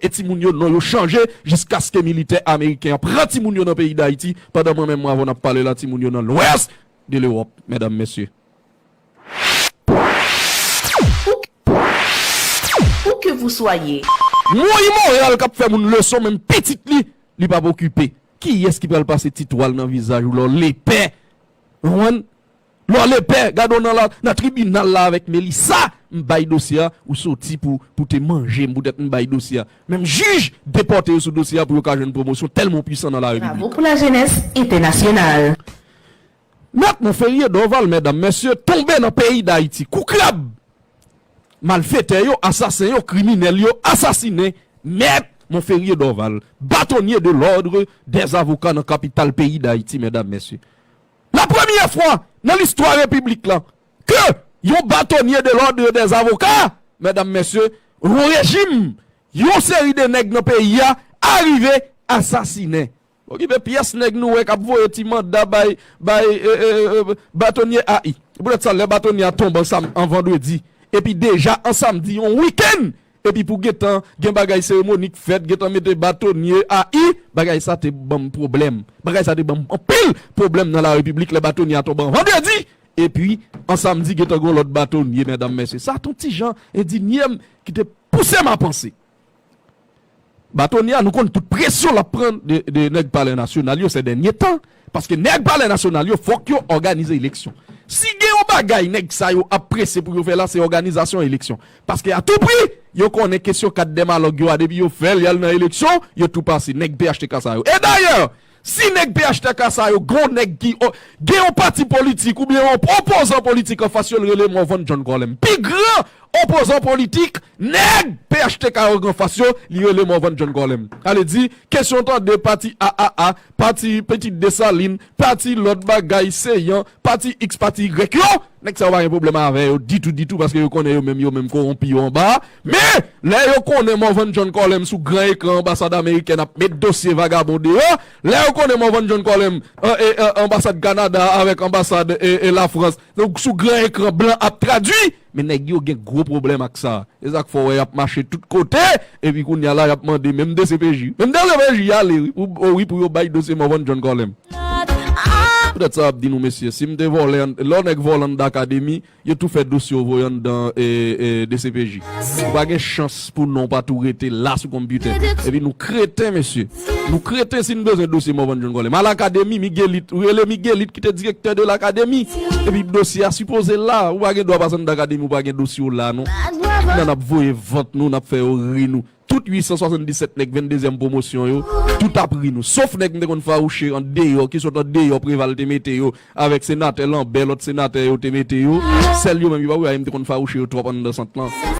E timoun yo non yo chanje jiskaske militè ameriken an pran timoun yo nan peyi Dayiti pandan mwen menm avèw nap pale la timoun yo nan lwès de lewòp mèdam mesye. Où que vous soyez. Mwen imoral kap fè moun leson menm pitit li li pap okipe kiyès ki pral pase ti twal nan vizaj ou lè w lepè ou konprann Lò lepè gade w nan tribinal la avèk Melissa m bay dosye a ou soti pou pou te manje m poutèt m bay dosye a menm jij depòte yo sou dosye a pou yo ka jwenn pwomosyon tèlman w pwisan nan la Bravo repiblik. pou la jenès entènasyonal. Mèt Monferrier Dorval Mèdam, Mèsye tonbe nan peyi Dayiti kou krab! Malfetè yo, asasen yo, kriminèl yo asasinen Mèt Monferrier Dorval, Batonye de lòdre dè Zavoka nan kapital peyi Dayiti, Mèdam, Mèsye. La premyè fwa nan listwa repiblik lan ke yon batonye de l'ordre des avocats, medam mesye, yon rejim, yon seri de nèg nan peyi a arive asasinen. Okipe pyès nèg nou wè kap voye ti manda bay bay batonye AI. Se poutèt sa lè batonye a tonbe an sam an vandredi epi deja an samdi yon week-end Epi pou gentan gen bagay seremoni k fèt, gentan mete batonye a i, bagay sa te ban m pwoblèm. Bagay sa te ban m anpil pwoblèm nan Larepiblik lè batonye a tonbe an vandredi, epi an samdi gentan gen yon lòt batonye. Medam mesye, sa t on ti jan endinye m ki te pouse m a panse. Batonya nou konn tout presyon lap pran de nèg palè nasyonal yo sè dènye tan paske nèg palè nasyonal yo fòk yo òganize eleksyon si gen yon bagay nèg sa yo ap prese pou yo fè la se òganizasyon eleksyon paske a tou pri yo konnen kesyon kat dèmalòg yo a depi yo fèl yal nan eleksyon yo tou pase nèg phtk sa yo e dayè Si nèg phtk sa yo gon nèg ki gen yon pati politik oubyen yon opozan politik anfas yo l rele Morvan John Colem. Pi gran opozan politik nèg phtk yo gen anfas yo li rele Morvan John Colem. Ale di kesyon tande pati aa, pati Petit Dessalines, pati lòt bagay Céant, Pati X pati Y yo, nèg sa yo pa gen pwoblèm avè yo ditou ditou paske yo konnen yo menm yo menm kowonpi yo anba a. Men, lè yo konnen Morvan John Colem sou gran ekran anbasad amerikèn ap met dosye vagabon deyò, lè yo konnen Morvan John Colem anbasad Kanada avèk anbasad Lafrans sou gran ekran blan ap tradui, Men nèg yo gen gwo pwoblèm ak sa. Se sa k fè w wè y ap mache tout kote, epi kounye a la y ap mande menm dcpj. Menm dcpj ale wi pou o wi pou yo bay dosye mò Van John Carlin. Poutèt sa m ap di nou mesye, si m te vòlè an, lè w nèg vòlè anndan akademi, yo tou fè dosye w voye anndan dcpj. Ou pa gen chans pou non w pa tou rete la sou konpyitè. Epi nou kreten mesye. Nou kreten si n bezwen dosye Morvan John Colem a Lakademi, Miguelite, ou rele Miguelite ki te direktè de Lakademi. Epi dosye a sipoze la. Ou pa gen dwa pase anndan Akademi ou pa gen dosye ou la non. Nan n ap voye vant nou, n ap fè yo ri nou. Tout 877 nèg venndezyèm pwomosyon yo, tout ap ri nou. Sof nèg m te konn fawouche an deyò, ki sot an deyò Preval te mete yo, avèk senatè Lanbè, lòt senatè yo te mete yo. Sèl yo menm ki pa pou yo ale m te konn fawouche yo twòp anndan sant lan.